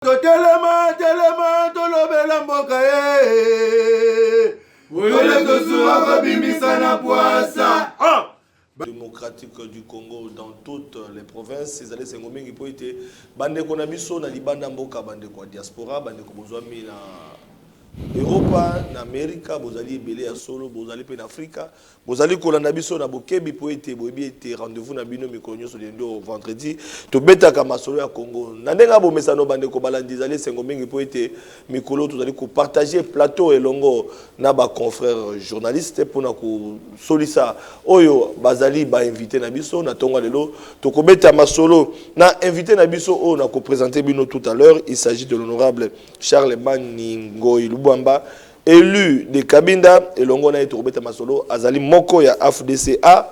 totelema telema tolobela mboka ye oyo tozuwa kobimisa na pwasa ah! démocratique du Congo dans toutes les provinces ezali esengo mingi mpo ete bandeko na biso na libanda mboka bandeko ya diaspora bandeko bozwami na europa na amerika bozali ebele ya solo bozali mpe na afrika Bozali kolanda biso na bokebi mpo ete boyebi ete rendez-vous na bino mikolo nyonso lundi au vendredi tobetaka masolo ya Congo na ndenge ya bomesano. Bandeko balandi, ezali esengo mingi mpo ete mikolo tozali kopartager plateau elongo na ba confrères journalistes mpo na kosolisa oyo bazali ba invites na biso. Na ntongo ya lelo, tokobeta masolo na invite na biso oyo nakopresenter bino tout à l'heure. Il s'agit de l'honorable Charlemagne Ngoy Lubwamba, Elu de Cabinda elongo na ye tokobeta masolo azali moko ya AFDCA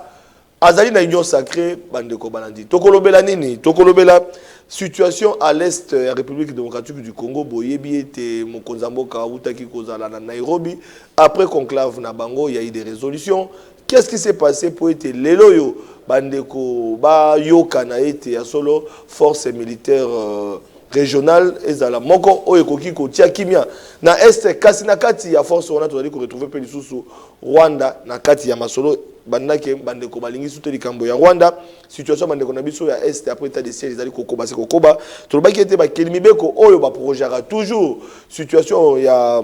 azali na union sacre bandeko balandi tokolobela nini tokolobela situation à l'est ya République démocratique du Congo boyebi ete mokonzi ya mboka awutaki kozala na Nairobi après conclave na bango ya idée résolution Qu'est ce qui s'est passe mpo ete lelo oyo bandeko bayokana ete ya solo force militaire euh, régionale ezala moko oyo ekoki kotia kimia na est kasi na kati ya force wana tozali koretrouve mpe lisusu rwanda na kati ya masolo bandaki bandeko balingi sute likambo ya rwanda situation ya bandeko na biso ya est après état de siège ezali kokoba se kokoba tolobaki ete bakeli mibeko oyo baprojaka toujours situation ya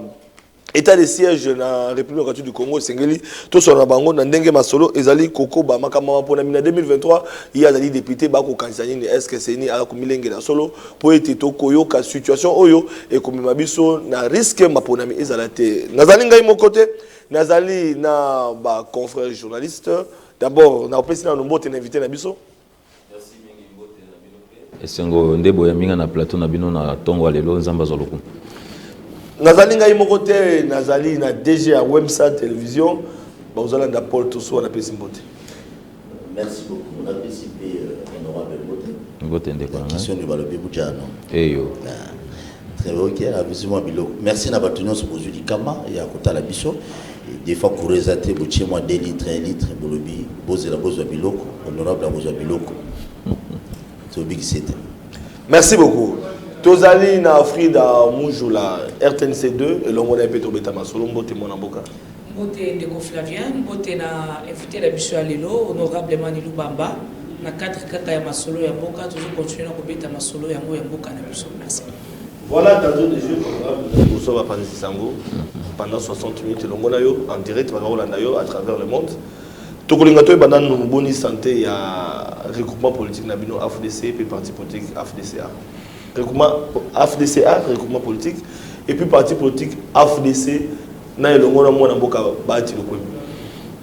Etat de siège na République démocratique du Congo esengeli tosolola na bango na ndenge masolo ezali kokoba makambo ya maponami na 2023 ye azali depute bakokanisa nini eske seni aza komilengela solo mpo ete tokoyoka situation oyo ekomema biso na riske maponami ezala te nazali ngai moko te nazali na ba confrère journaliste d'abord nakopesi nano mbote na invité na biso Merci mingi mbote na bino pe. Esengo nde boyambi nga na plateau na bino na tongo ya lelo nzambe azwa lokumu. Nazali ngai moko te nazali na DG ya Wemsa Television bakozala nda Paul Toussoua napesi mbote. Merci beaucoup napesi pe euh, honorable mbote. Mbote ndeko na ngai. Question de balobi bujano. Eyo. Ah. Trevor Kier avizi mwa biloko. Merci na bato nyonso bozwi likama ya kotala biso. Des fois courant eza te, botie mwa 2 litres, 1 litre, bolobi bozela bozwa biloko, honorable akozwa biloko. Tobikise te. Merci beaucoup. Tozali na Frida Mujula, RTNC 2, elongo na ye mpe tobeta masolo mbote mwana mboka. Mbote ndeko Flavien, mbote na invite na biso ya lelo honorable Emani Lubamba, na cadre kaka ya masolo ya mboka tozo continuer na kobeta masolo yango ya mboka na biso. Merci. Voilà tantôt des jeux programmes de Bourso Bapanzi Sango pendant 60 minutes longo na yo en direct baka kolanda yo à travers le monde. Tokolinga toyeba nanu boni santé ya regroupement politique na bino AFDC pe parti politique AFDCA. Regroupement AFDCA, regroupement politique et puis parti politique AFDC na elongo na mwana mboka Bahati Lukwebo.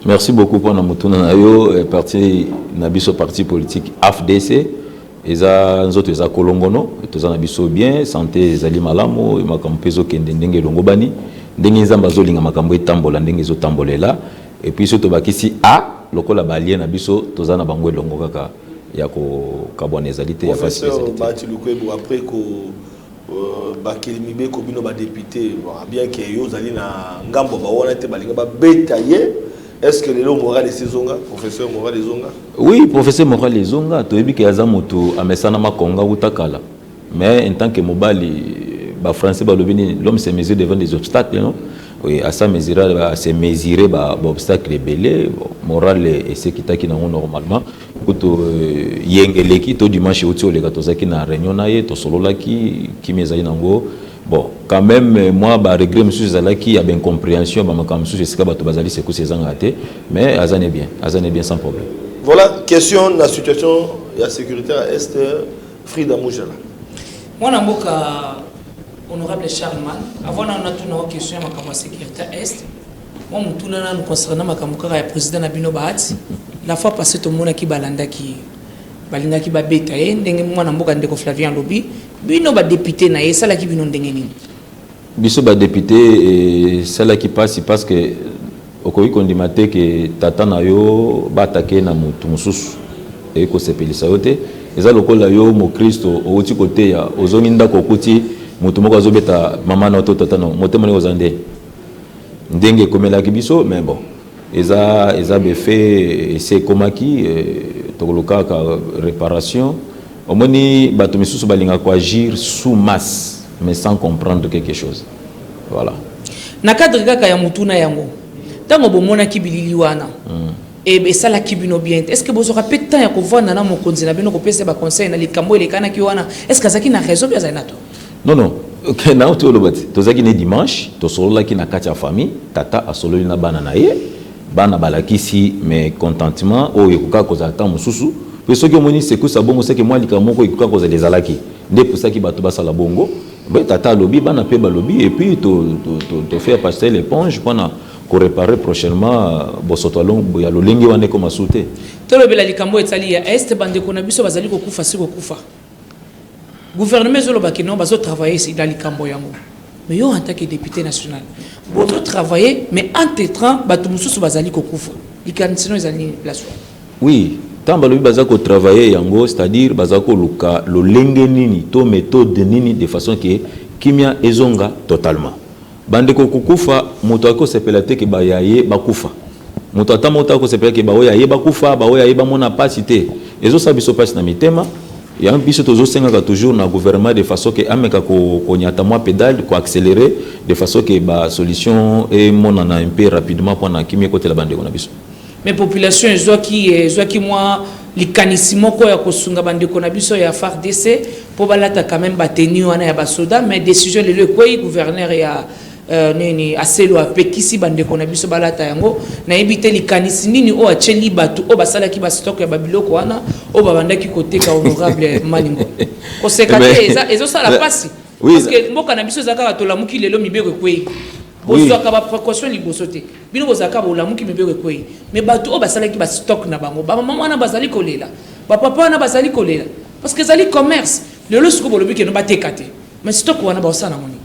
Merci beaucoup pona motuna na yo eh, parti na biso parti politique AFDC eza nzoto eza kolongono toza na biso bien santé ezali malamu makambo mpe ezokende ndenge elongobani ndenge nzambe azolinga makambo etambola ndenge ezotambolela epuis so tobakisi a lokola balie na biso toza na bango elongo kaka ya kokabwana ezali te ya pasi ezali te bakeli mibeko bino ba depute bien que yo ozali na ngambo ya bawana te balinga babeta ye est ce que lelo moral esi ezonga professeur moral ezonga oui professeur moral ezonga toyebi ke aza moto amesana makonga uta kala mais en tant que mobali bafrançais balobi nini l'homme se mesure devant des obstacles non oui, à sa mesure, à se mesurer, bah, obstacle belé, moral et ce qui t'a qui normalement. kutu yenge eleki to dimanche euti oleka tozalaki na réunion na ye tosololaki kimia ezali nango bon quand même mwa ba regret mosusu ezalaki ya baincomprehension ya bamakambo mosusu esika bato bazali sekusi ezangaka te mais aza ne bien aza ne bien sans problème voilà question na situation ya sécurité ya est frida mujala mwana mboka honorable charleman avant na natuna question ya makambo ya sécurité ya est Mwa motuna nanu concernant makambo kaka ya president na bino Bahati. La fois passee tomonaki balandaki ye, balingaki babeta ye ndenge mwana mboka ndeko Flavien alobi. Bino ba deputes na ye esalaki bino ndenge nini? Biso ba deputes esalaki pasi parce que okoki kondima te ke tata na yo ba attaquer na motu mosusu eye kosepelisa yo te. Eza lokola yo mokristo owuti koteya ozongi ndako okuti motu moko azobeta mama na yo to tata na yo, motema ndenge oza nde. Ndenge ekomelaki biso mais bon eza eza be fait ese ekomaki tokolukaka reparation omoni bato misusu balingaka ko agir sous masse mais sans comprendre quelque chose voilà. Na cadre kaka ya motuna yango tango bomonaki bilili wana esalaki bino bien te est ce que bozwaka pe temps ya kovanda na mokonzi na bino kopesa ye ba conseils na likambo oyo elekanaki wana est ce que azalaki na raison oubien azali na tort? Non, non. Okay, nao toloba ti tozalaki ne dimanche tosololaki na kati ya famille tata asololi na bana na ye bana balakisi mais contentement oyo oh, ekokaka kozala ntango mosusu mpe soki omoni secousse ya bongo seke mwa likambo moko ekokaka kozala ezalaki nde epusaki bato basala bongo mpe tata alobi bana mpe balobi epuis tofaire passer l'éponge mpona koreparer prochainement euh, bosoto ya lolenge wana ekoma su te tolobela likambo etali ya este bandeko na biso bazali kokufa si kokufa Gouvernement ezo loba que non bazo travailler na likambo yango mais yo en tant que depute national bozo travailler mais entre temps batu mosusu bazali kokufa likanisi no ezali nini place wana? Oui, ntango balobi baza ko travailler yango c'est à dire baza koluka lolenge nini to methode nini de façon que kimia ezonga totalement. Bandeko kokufa moto akoki kosepela te ke baye ya ye bakufa. Moto ata moko te akoki kosepela ke baoyo ya ye bakufa, baoyo ya ye bamona pasi te. Ezosala biso pasi na mitema, yango biso tozosengaka toujours na gouvernement de façon ke ameka konyata mwa pedale, ko accelerer de façon ke ba solutions emonana un peu rapidement pona kimia ekotela bandeko na biso. Mais population ezwaki ezwaki mwa likanisi moko ya kosunga ba ndeko na biso ya fardc po balata quand meme ba tenue wana ya ba soda mais decision lelo ekweyi gouverneur ya Euh, nini aselo apekisi bandeko na biso balata yango nayebi te likanisi nini oyo atyeli bato oyo basalaki bastock ya babiloko wana oyo babandaki koteka honorable malingo koseka te ezosala mpasi mboka na biso eza kaka tolamuki lelo mibeko ekwei Bozwaka ba precaution liboso te bino bozala kaka bolamuki mibeko ekwei mais bato oyo basalaki ba stock na bango ba mama wana bazali kolela ba papa wana bazali kolela parce que ezali commerce lelo siko bolobi keno bateka te mais stock wana baosala nango nini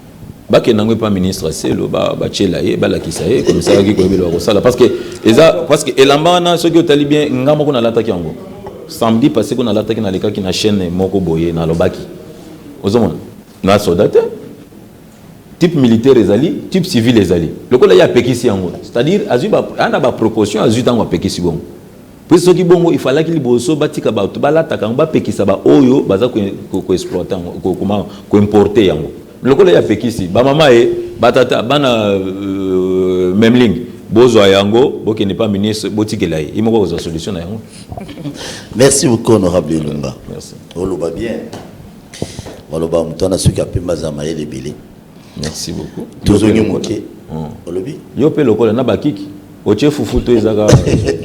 bakenda yango epa ministre selo batyela ye balakisa ye komisalaki koyebela bakosala parce que eza parce que elamba wana soki otali bien nga moko nalataki yango samedi passé ko nalataki nalekaki na chaîne moko boye nalobaki ozomona na soda te type militaire ezali type civil ezali lokola ye apekisi yango c'est-à-dire azwi ana baproportion azwi ntango apekisi bongo mpe soki bongo ifalaki liboso batika bato balataka yango bapekisa baoyo baza koexploite yango kokoma koimporte yango lokola ye apekisi bamama ye batata bana euh, memling bozwa yango bokende mpa ministre botikela ye ye moko kozwa solution na yango merci beaucoup honorable elonga oloba bien Maloba ya moto wana soki apembi aza na mayele ebele. Merci beaucoup. Tozongi moke. Hmm. Olobi? Yo pe lokola na bakiki. Otie fufu to ezaka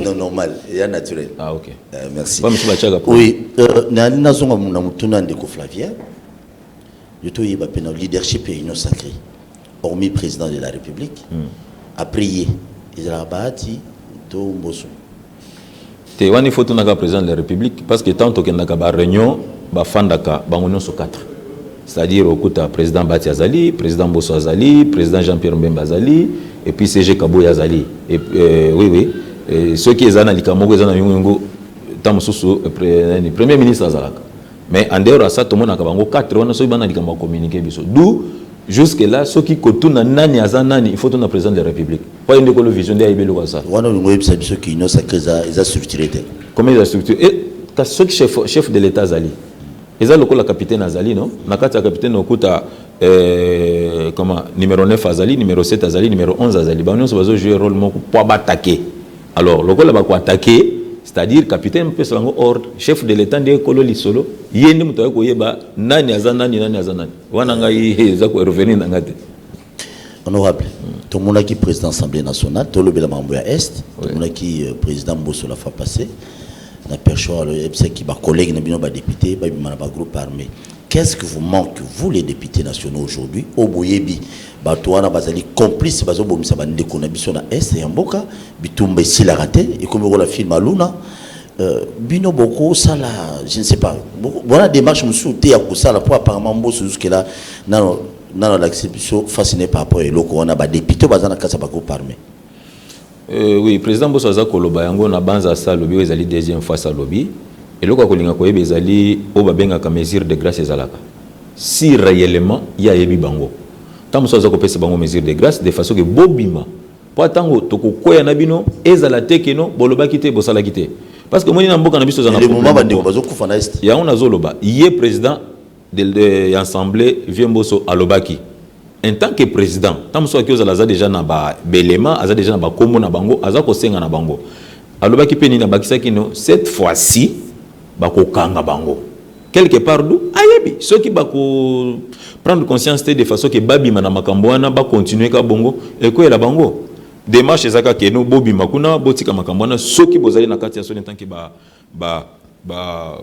Non normal, ya naturel. Ah OK. Euh, merci. Ba misuba chaka. Oui, euh, na na zonga na mutuna ndeko Flavien. Yo to yeba pe na leadership et union sacrée. Hormis président de la République. Hmm. Après ye, ezala bahati to mboso. te wana il faut tunaka président de la république parce que tant tokendaka ba réunion bafandaka bango nyonso 4 c'est-à-dire okuta président bati azali président boso azali président jean pierre mbemba azali et puis cg kaboy azali et, euh, oui oui euh, soki eza na likambo moko eza na yongoyongo ntango mosusu euh, premier ministre azalaka mais en dehors ya ça tomonaka bango 4 wana soki bana likambo ya communiqué biso d'où Jusque là soki kotuna nani aza nani il faut tuna president de la republique po aye nde kolo vision nde ayebi eloko asala. Wana olingi oyebisa biso ki union sacree eza eza structure te? Comment eza structure et kasi soki chef chef de l'etat azali eza lokola capitaine azali no na kati ya capitaine okuta euh, comment numero 9 azali numero 7 azali numero 11 azali bango nyonso bazo jouer role moko po batake alors lokola bako atake c'est-à-dire capitaine mopesa bango ordre chef de l'etat nde ekolo lisolo ye nde moto aye koyeba nani aza nani nani aza nani wana ngai eza ko revenir na ngai te honorable tomonaki président assemblée nationale tolobela makambo ya est tomonaki euh, président mboso la fois passé na perchoir oyebisaki bacollègue na bino badepute babima na bagroupe armé qu'est-ce que vous manque vous les députés nationaux aujourd'hui oyo boyebi bato wana bazali complice bazobomisa bandeko na biso na est ya mboka bitumba esilaka te ekomi okola film aluna Bino boko sala je ne sais pas wana demarche mususu te ya kosala po apparemment mboso jusque là nano nano alakisi biso face naye par rapport ya eloko wana ba deputes oyo baza na kati ya ba groupes armes. Euh oui president mboso aza koloba yango na banza asi alobi oyo ezali deuxième fois asi alobi eloko ya kolinga koyeba ezali oyo babengaka mesure de grace ezalaka si reellement ye ayebi bango tango mosusu aza kopesa bango mesure de grace de façon que bobima Mpo ata ntango tokokweya na bino, ezala te que no bolobaki te, bosalaki te. Parce que omoni na mboka na biso ezalaka problème. Elemo bandeko bazo kufa na est. Yango nazo loba, ye president ya ensemble vieux Mboso alobaki en tant que president, ntango mosusu akoki kozala aza deja na ba elements, aza deja na ba kombo na bango, aza kosenga na bango. Alobaki mpe nini? Abakisaki no cette fois-ci bakokanga bango. quelque part d'où ayebi soki bako prendre conscience te de façon que babima na makambo wana ba continuer ka bongo ekoyela bango démarche eza kaka keno bobima kuna botika makambo wana soki bozali na kati ya soni tant que ba ba ba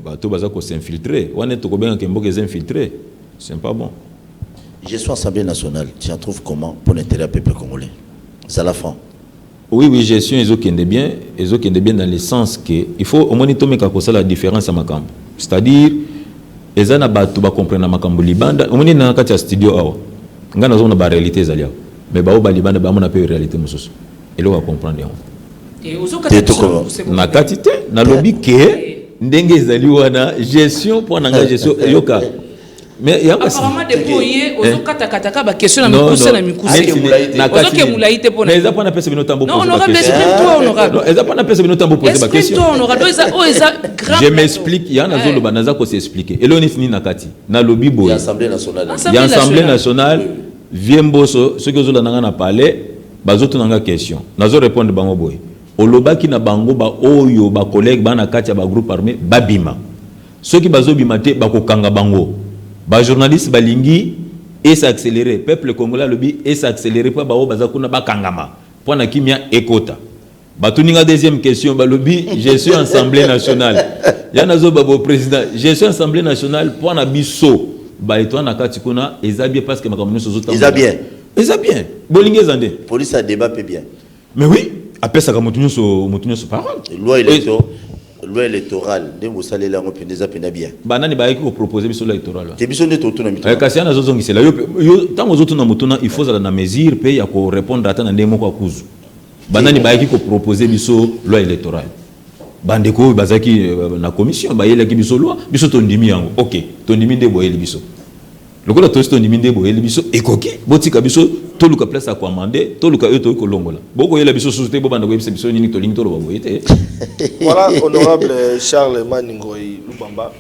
bato baza ko s'infiltrer wana tokobenga ke mboka eza infiltrer c'est pas bon gestion assemblée nationale tu en trouves comment pour l'intérêt ya peuple congolais zala franc Oui oui gestion ezo kende bien ezo kende bien dans le sens que il faut omoni tomeka kosala difference ya makambo c'est à dire eza na batu ba comprena makambo libanda omoni na kati ya studio awa nga nazo na ba realite ezali awa mais ba oba libanda ba mona pe realite mususu eloko ya comprendre yango na kati te na lobi ke ndenge ezali wana gestion po na nga gestion yoka mais yango apparemment depuis oye eh. ozokata-kata ka bakestion na mikuse na mikuseozoke molai te mpona eza mpona pesa bino ntango non honorable exprime toi honorable eza mpona pesa bino ntango poser bakestion toi honorable oyo eza oyo eza grave je m'explique ya nazoloba naza ko s'expliquer eloo neti nini na kati nalobi boye ya assemblée nationale vie mboso soki ozolanda ngai na palais bazotuna ngai question nazo répondre bango boye olobaki na bango baoyo bacollègue bana kati ya bagroupe armé babima Soki bazo bima te bako kanga bango. Ba journaliste balingi e s'accelerer peuple congolais alobi e s'accelerer po ba oyo baza kuna ba kangama po na kimia ekota batuni nga deuxième question balobi je suis ensemblee nationale ya nazo ba bo president je suis ensemblee nationale po na biso ba etoile na kati kuna eza bien parce que makambo nionso ezo tambola eza bien bolingi eza nde police ya debat pe bien. Mais oui, apesaka moto nyonso moto nyonso parole. Loi electorale loi électorale nde bosaleli yango mpenza eza mpenza bien banani bayaki kopropose biso loi électorale te biso nde totuna mituna eh, kasi ana azozongisela yo ntango ozotuna motuna il faut ozala na mesure mpe ya korépondre ata na ndenge moko ya kuzu banani bayaki kopropose biso loi électorale bandeko oyo bazalaki euh, na commission bayelaki biso loi biso tondimi yango ok tondimi nde boyeli biso Lokola tosi tondimi nde boyeli biso ekoki, botika biso toluka place ya koamande, toluka oyo tokoki kolongola. Bokoyela biso susu te, bobanda koyebisa biso nini tolingi toloba boye te. Voilà honorable Charles Mani Ngoy Lubamba.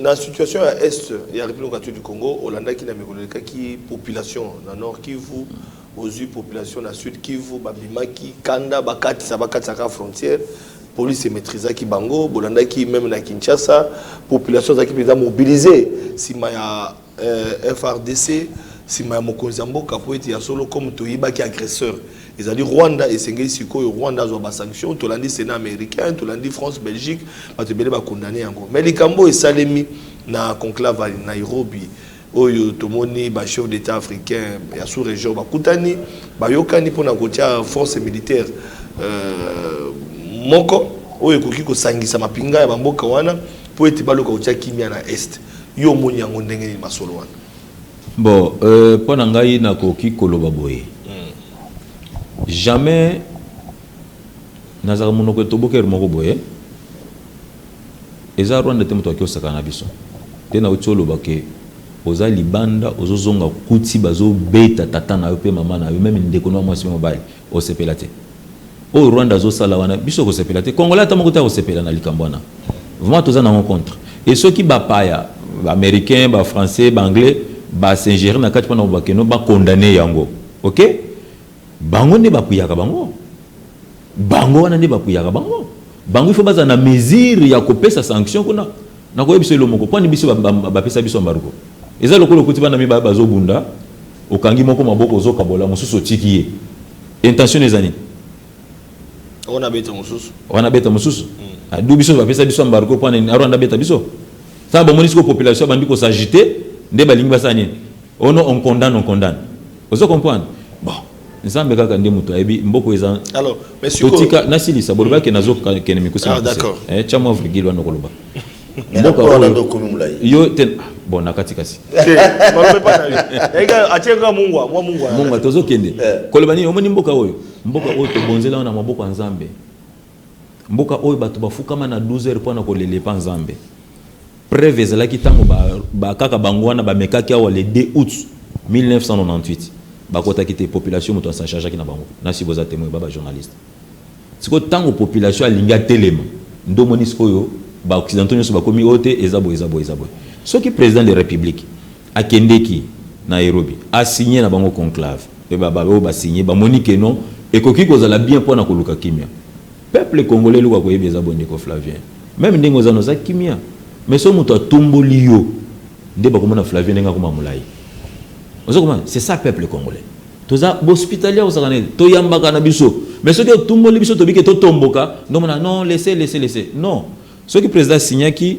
Na situation ya est ya Republique Catholique du Congo, olandaki na mikolo elekaki population na Nord Kivu, ozui population na Sud Kivu, babimaki kanda bakatisaka bakatisaka frontière. Police e maitrisaki bango, bolandaki meme na Kinshasa, population ezalaki mpenza mobiliser nsima ya euh, FRDC, nsima ya mokonzi ya mboka mpo ete ya solo comme toyibaki agresseur ezali rwanda esengeli sikoyo rwanda azwa basanction tolandi sénat américain tolandi france belgique bato ebele bakondane yango mai likambo oyo esalemi na conclave ya nairobi oyo tomoni ba chefs d'Etat africains ya sous-region bakutani, bayokani mpo na kotya force militaire moko oyo ekoki kosangisa mapinga ya ba mboka wana mpo ete baluka kotya kimya na Est. Yo omoni yango ndenge nini masolo wana? Bon, mpo na ngai nakoki koloba boye, jamais, Nazalaka munoko etoboki heure moko boye eza Rwanda te mutu ake osakana na biso te nawuti oloba ke oza libanda ozo zonga okuti bazo beta tata nayo pe maman nayo meme ndeko nayo mwasi pe mobali osepela te oyo Rwanda azo sala wana biso kosepela te congolais ata moko te akosepela na likambo wana vraiment toza nango contre et soki ba paya ba americain ba français ba anglais ba singere na kati pona kobakeno ba condamne yango ok Bango nde ba kuyaka bango. Bango wana nde ba kuyaka bango. Bango il faut bazala na mesure ya ko pesa sanction kuna. Na ko yebisa yo eloko moko, kwani biso ba pesa biso embargo? Eza lokola okuti bana mibale bazo bunda, okangi moko maboko ozo kabola mosusu otiki ye. Intention nayo eza nini? Oyo na beta mosusu. Oyo na beta mosusu. Ah d'où biso ba pesa biso embargo pona nini? Rwanda abeta biso? Tango ba moni sikoyo population ebandi ko s'agiter, nde ba lingi basala nini? Oh non on condamne, on condamne. Ozo comprendre? Bon, Nzambe kaka nde mutu ayebi, mboka oyo eza. Alors, mais sikoyo. Totika, nasilisa, bolobaki ke nazo kende mikuse na mukuse. Ah, d'accord. Eh, tia mwa virgule wana okoloba. Mboka oyo. Nando komi mulayi. Yo te, ah, bon, nakati kasi. Te, balobe pa na yo. Ega, atie nga mungwa, mwa mungwa. Mungwa, tozo kende. Eh. Koloba nini, omoni mboka oyo? Mboka oyo tobonzela wana maboko ya Nzambe. Mboka oyo bato bafukama na 12 heures pona kolela epa Nzambe. Preuve ezalaki tango ba ba kaka bango wana bamekaki awa le 2 aout 1998 bakotaki te population moto a s'en chargeaki na bango. Nasi boza temoin ba ba journaliste. Sikoyo tango population alingi atelema nde omoni sikoyo ba occidentaux nionso bakomi oyo te eza boye eza boye eza boye. Soki president de republique Akendeki Nairobi, a signer na bango conclave mpe ba ba oyo ba signer bamoni que non ekoki kozala bien mpo na koluka kimia. Peuple congolais eloko ya koyeba eza boye ndeko Flavien, meme ndenge oza na oza kimia mais soki mutu atomboli yo nde bakomona Flavien ndenge akoma mulayi. Ozo comprendre? C'est ça peuple congolais. Toza ba hospitalier ya kosakana te, toyambaka na biso mais soki otumboli biso tobi que totomboka nde omona non laissez laissez laissez non soki president a signaki,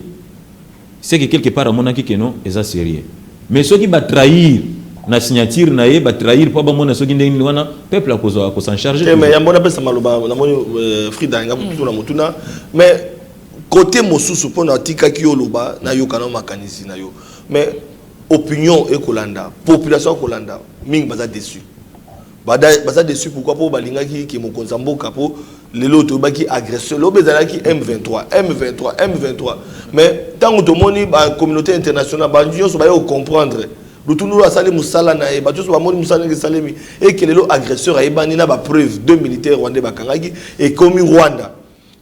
ce que quelque part amonaki que non eza serieux mais soki ba trahir na signature na ye ba trahir po bamona soki ndenge nini wana peuple akozwa ako s'en charger te mais yambo napesa maloba namoni euh, Frida alinga kotuna hmm. motuna mais kote mosusu mpo na atikaki yo oloba nayoka na makanisi na yo mais opinion ekolanda population ekolanda mingi baza dessus Bada baza dessus pourquoi po balingaki ke mokonzi ya mboka po lelo toyebaki agression lobi ezalaki M23 M23 M23 mais ntango tomoni ba communauté internationale ba nyonso baye kocomprendre lutundulu asali mosala na ye bato nyonso bamoni mosala ndenge esalemi eke lelo agresseur ayebani na bapreuve deux militaire rwandais bakangaki ekomi rwanda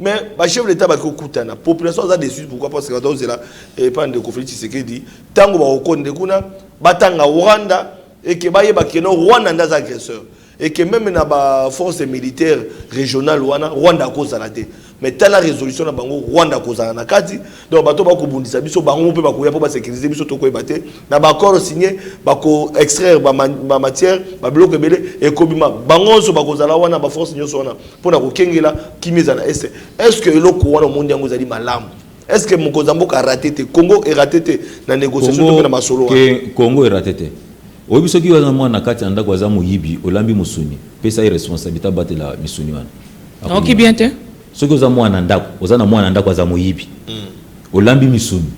mais ba chef d'état ba kokutana population aza déçu pourquoi parce que bato zela et eh, pas de conflit Tshisekedi tango ba okonde kuna batanga Rwanda et que ba yeba que non Rwanda ndaza agresseur et que même na ba force militaire régionale wana Rwanda akozala te mais tala résolution na bango Rwanda akozala na kati donc bato bakobundisa biso bango mpe bakoya mpo basécurise biso tokoyeba te na baaccord signe bako extraire bamatière babiloko ebele ekobima bango nyonso bakozala wana baforce nyonso wana mpo na kokengela kimi eza na este est ce que eloko wana omoni yango ezali malamu est ce que mokonzi ya mboka arate te congo erate te na négociation to mpe na masolo wana congo erate te oyebi soki yo aza mwana na kati ya ndako aza moyibi olambi mosuni pesa ye responsabilité abatela misuni wana akoki bien te Soki oza muana ndaku oza na muana ndaku aza moyibi olambi misuni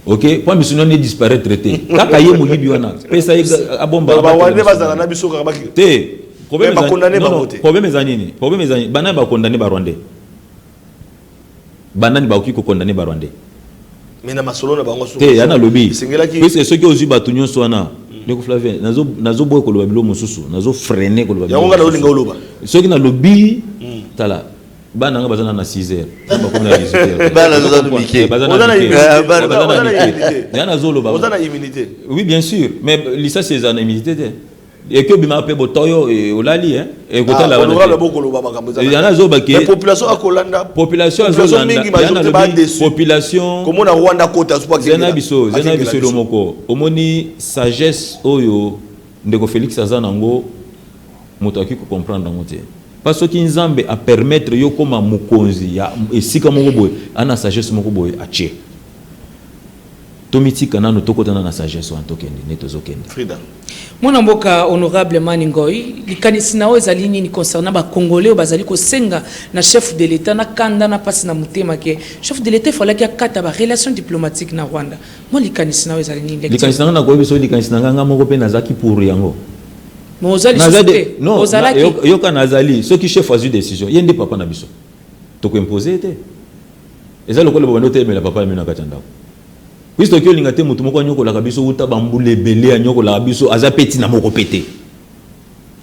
ok po misuni wana e disparaitre te kaka ye moyibi wana pesa ye abomba ba rwandais bazala na biso kaka te problème ezali problème ezali nini problème ezali nini banani ba condamne ba rwandais banani bakoki ko condamne ba rwandais mais na masolo na bango te ya nalobi puisque soki ozwi bato nyonso wana mm. ndeko flavien nazoboya koloba bilo mosusu nazo freine koloba yango nga naolinga oloba soki nalobi mm. tala bana nga baza na na 6 heures bakomi na 18 heures bana baza na mike eh, baza na mike baza na mike ya nazoloba oui bien sûr mais lisasi eza na immunité te eke obimaka mpe botoyo eh, olali eh? eh, kotalabopulationkomona rwanda kotazena biso zena biso elo moko omoni sagesse oyo ndeko félix aza nango moto akoki kocomprendre yango te mpa soki nzambe apermettre yo okoma mokonzi ya esika moko boye ana sagesse moko boye atie Tomitika nanu tokota na na sagesse wana tokende nde tozo kende. Frida. Mwana mboka honorable Mani Ngoy, likanisi na yo ezali nini concernant ba congolais oyo bazali kosenga na chef de l'Etat na kanda na pasi na motema ke chef de l'Etat efalaki akata ba relations diplomatiques na Rwanda? Mwa likanisi na yo ezali nini? Lecture. Likanisi na nga nakoyebisa yo likanisi na nga nga moko pe nazalaki pour yango. Mais oza Naza lisusu de te. non na- Ozalaki. yoka- yoka nazali soki chef azwi decision ye nde papa na biso toko impose ye te. Eza lokola bobandi kotelemela papa na bino na kati ya ndako. Puis tokoki kolinga te moto moko anyokolaka biso uta bambula ebele, anyokolaka biso, aza mpe ntina moko mpe te.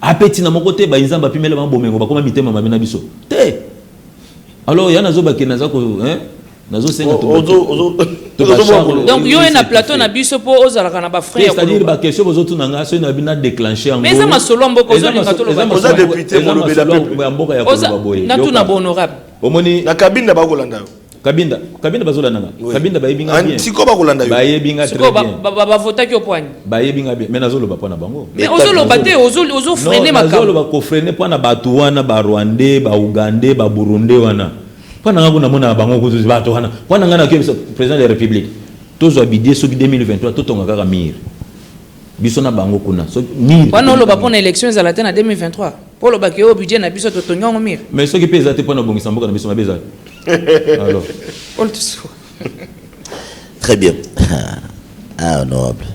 A mpe ntina moko te, bayi Nzambe apimela bango bomengo, bakoma mitema mabe na biso te. Alors ya nazoba ke naza ko hein, nazosenga donc yo ye na plateau na biso mpo ozalaka na bafrai ya c'est-à-dire baquestion bozotuna ngai soki nabi na déclenche yango mais eza masolo ya mboka ozolinga toloba eza masolo ya mboka ya koloba boye natuna bohonorable Omoni na kabinda ba kolanda yo. Kabinda, kabinda bazo landa nga. Kabinda ba yebinga ah, bien. Siko ba kolanda yo. Ba yebinga très bien. Siko ba ba vota ki opwani. Ba yebinga bien. Mais nazo loba pona bango. Mais ozo loba te, ozo ozo freiner makabo. Nazo loba ko freiner pona batu wana ba Rwandais, ba Ougandais, ba Burundais wana. Pona nga kuna mona bango kuzu batu wana. Pona nga na kebisa président de la République. Tozo abidie soki 2023 totonga kaka mire. Biso na bango kuna soki nini wana oloba pona election ezala te na 2023 po oloba ke oyo budget na biso totongi yango mire mais soki mpe eza te mpona obongisa mboka na biso mabe eza alors très bien ah honorable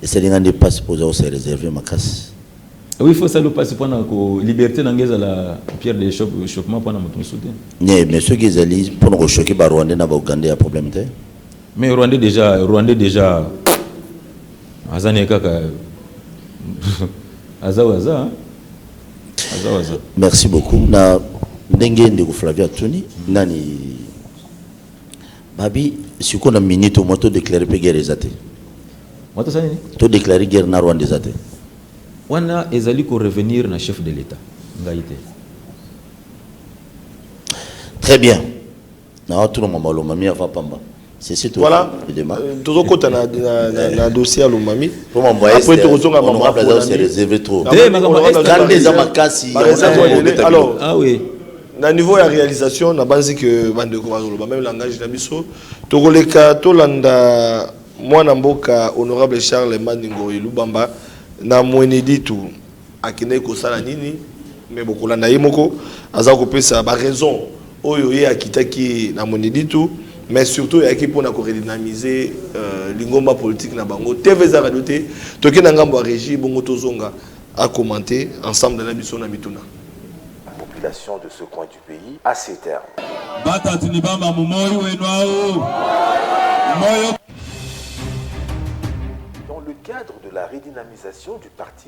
esalinga nde mpasi mpo oza kose réserve makasi oui il faut sala mpasi mpona ko liberté na ngai ezala pierre de chopement mpona moto mosusu te mais soki ezali mpona kochoke barwandais na baougandais ya problème te Mais rwandais dejà rwandais dejà aza ne kaka aza waza hein. aza waza merci beaucoup na ndenge ndeko flavio atuni nani babi sikoyo na minute omwa to déclare mpe guerre eza te mwa tosala nini to déclare guerre na rwanda eza te wana ezali korevenir na chef de l'état ngai te très bien Nazo tuna mama lomami avant pamba. Ceci tout voilà dema. Euh, tozo kota na na na dossier ya lomami. Pour mon voyage. Après toko zonga mama. Honorable Azao se réserver trop. Te makamba est. Quand des amakasi. Alors. Ah oui. na niveau ya réalisation nabanzi ke bandeko bazoloba meme langage na biso tokoleka tolanda mwana mboka honorable charles maningo elubamba na mweneditu Akendaki kosala nini? Mais bokolanda ye moko aza kopesa ba raisons oyo ye akitaki na Mweneditu mais surtout ayaki pona ko redynamiser lingomba politique na bango. TV eza radio te. Toke na ngambo ya regie bongo tozonga a commenter ensemble na biso na mituna. population de ce coin du pays à ce terme. Batati ni bamba mu moyi wenu au moyi. Dans le cadre de la redynamisation du parti,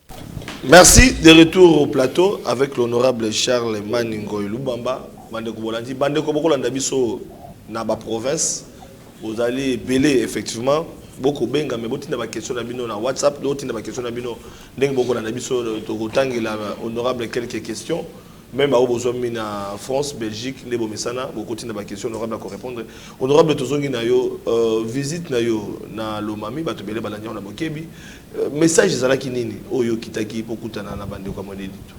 Merci de retour au plateau avec l'honorable Charles Maningoy Lubamba bandeko bolandi bandeko bokolanda biso na ba province bozali ebele effectivement boko benga mais botinda ba question na bino na WhatsApp do tinda ba question na bino ndenge boko na biso tokotangela honorable quelques questions même au besoin na France Belgique ndebo mesana boko tinda ba question honorable ko répondre honorable tozongi na yo euh, visite na yo na Lomami bato bele balandi na bokebi Message ezalaki nini oyo okitaki po kutana na bandeko ya Mweneditu?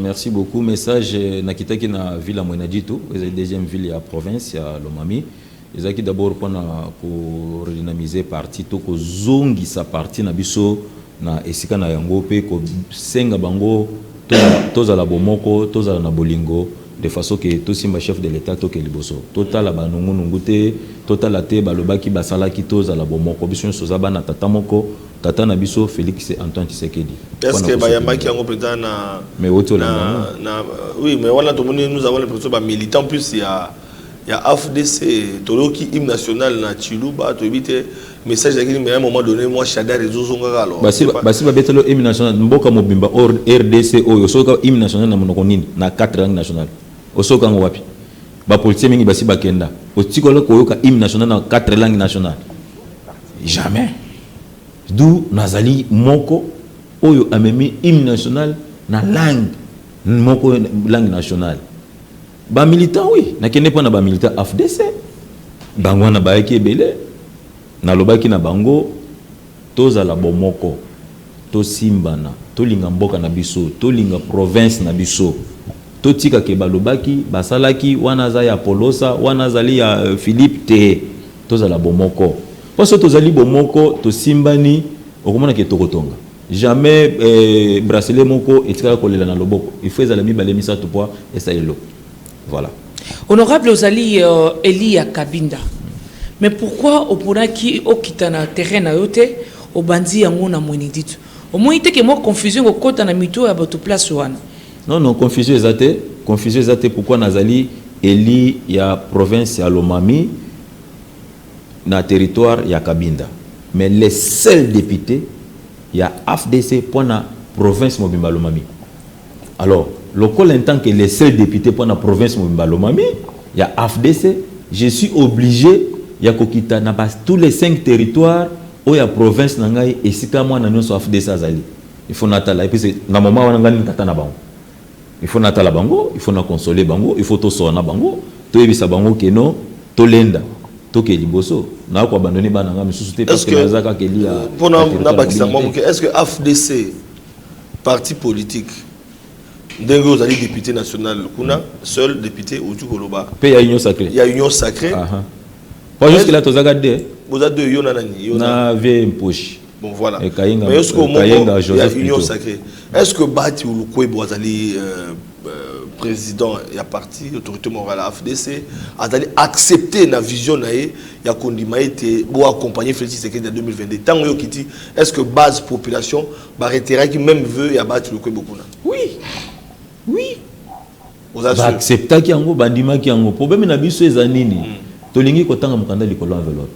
Merci beaucoup message nakitaki na ville ya Mweneditu ezali deuxième ville ya province ya Lomami ezalaki d'abord pona ko redynamiser parti to kozongisa parti na biso na esika na yango pe kosenga bango tozala bomoko tozala na bolingo de façon que tosimba chef de l'Etat toke liboso totala ba nungu nungu te totala te balobaki basalaki tozala bomoko biso nionso toza bana tata moko tata na biso Felix Antoine Tshisekedi Est ce que ba yambaki yango penza na mais oti olanda yango na oui mais wana tomoni nous avons l'impression ba militants plus ya ya AFDC toyoki hymne national na Tshiluba toyebi te message ezalaki nini mais à un moment donné moi shadar ezozongaka alors basi basi babetelo hymne national mboka mobimba or rdc oyo osoyoka hymne national na monoko nini na 4 langue nationale osoyoka yango wapi bapolitien mingi basi bakenda otikola koyoka hymne national na 4 langue nationale jamais d'où nazali moko oyo amemi hymne national na langue moko langue nationale Ba militants oui na kende pona ba militants afdc bango wana bayaki ebele na lobaki na bango tozala bomoko tosimbana tolinga mboka na biso tolinga province na biso totika ke balobaki basalaki wana aza ya polosa wana azali ya euh, Philippe te tozala bomoko po soki tozali bomoko tosimbani okomona ke tokotonga Jamais eh, bracelet moko etikala kolela na loboko. Il faut ezala mibale misato po esala eloko. Voilà. Honorable ozali euh, Eli ya Kabinda. Mais pourquoi oponaki okita na terrain na yo te obandi yango na Mweneditu? Omoni te ke mwa confusion kokota na mito ya bato place wana? Non, non, confusion eza te. Confusion eza te pourquoi nazali Eli ya province ya Lomami. na territoire ya Cabinda mais le seul depute ya afdc mpo na province mobimba ya Lomami. Alors, lokola en tant que le seul depute mpo na province mobimba ya Lomami ya afdc, je suis oblige ya kokita na ba tous les cinq territoires oyo ya province na ngai esika mwana nionso ya afdc azali. Il faut natala et puis c'est na moment wana ngai nde tata na bango. Il faut natala bango, il faut na consoler bango, il faut tosola na bango, toyebisa bango que non, tolenda, tokee liboso. Naya ko abandonner bana na ngai misusu te parce que naza kaka eli ya. Mpo na nabakisa mwa moke, est-ce que AFDC parti politique ndenge ozali député national kuna seul député outi koloba mpe ya union sacré ya union sacré po jusque là tozaka deux boza deux yo na nani na vie mposhi Bon voilà. Et Kayenga, Mais est-ce que euh, Kayenga Joseph Union plutôt. sacrée. Est-ce que Bati ou Lukwebo azali euh, euh, président ya parti autorité morale ya FDC azali accepter na vision na ye ya kondima ete bo accompagner Félix Tshisekedi na 2022. Tango yo kiti est-ce que base population ba retiraki même vœu ya Bati Lukwebo kuna? Oui. Oui. ba acceptaki yango bandimaki yango problème na biso eza nini mm. tolingi kotanga mokanda likolo ya enveloppe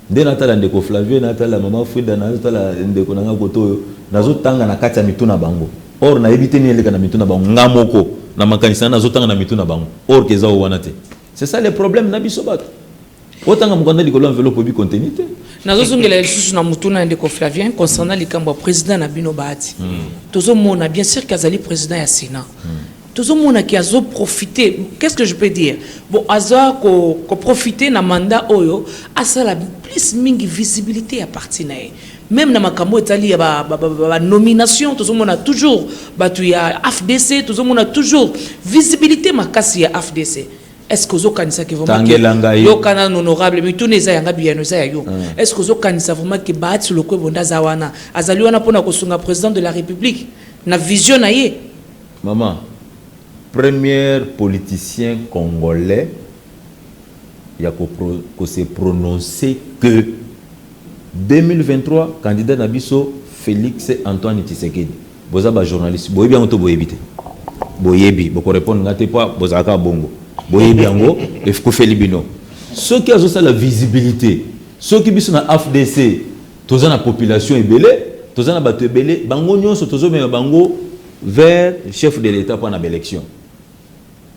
nde natala ndeko flavie natala mama frida nazotala ndeko na ngai koto oyo nazotanga na kati ya mitu na bango or nayebi te nini eleka na mitu na bango nga moko na makanisi na nazotanga na mitu na bango or ke eza oyo wana te c'est ça le problème na biso bato Otanga mokanda likolo ya enveloppe oyebi contenu te. nazozongela lisusu na motuna ya ndeko flavien concernant likambo ya président na bino bahati hmm. tozomona bien sûr ke azali président ya sénat hmm. tozomona ke azoprofite qu'est ce que je peux dire bon aza koprofite na mandat oyo asala plus mingi visibilité ya parti na ye même na makambo etali ya banomination tozomona toujours bato ya afdc tozomona toujours visibilité makasi ya afdc Est-ce que ozo kanisa que vraiment Tangela ngai. yoka nanu honorable mituna eza yanga biyano eza ya yo est-ce que ozo kanisa vraiment que Bahati Lokwebo nde aza wana azali wana pona kosunga president de la Republique na vision na ye Maman, premier politicien congolais ya ko, pro, ko se prononcer que 2023 candidat na biso Felix Antoine Tshisekedi. Boza ba journaliste boyebi yango to boyebi te boyebi boko repondre nga te po bozala kaka bongo boyebi yango ekufeli bino soki azosala visibilité soki biso na afdc toza na population ebele toza na bato ebele bango nyonso tozomema bango vers chef de l'etat mpo na baélection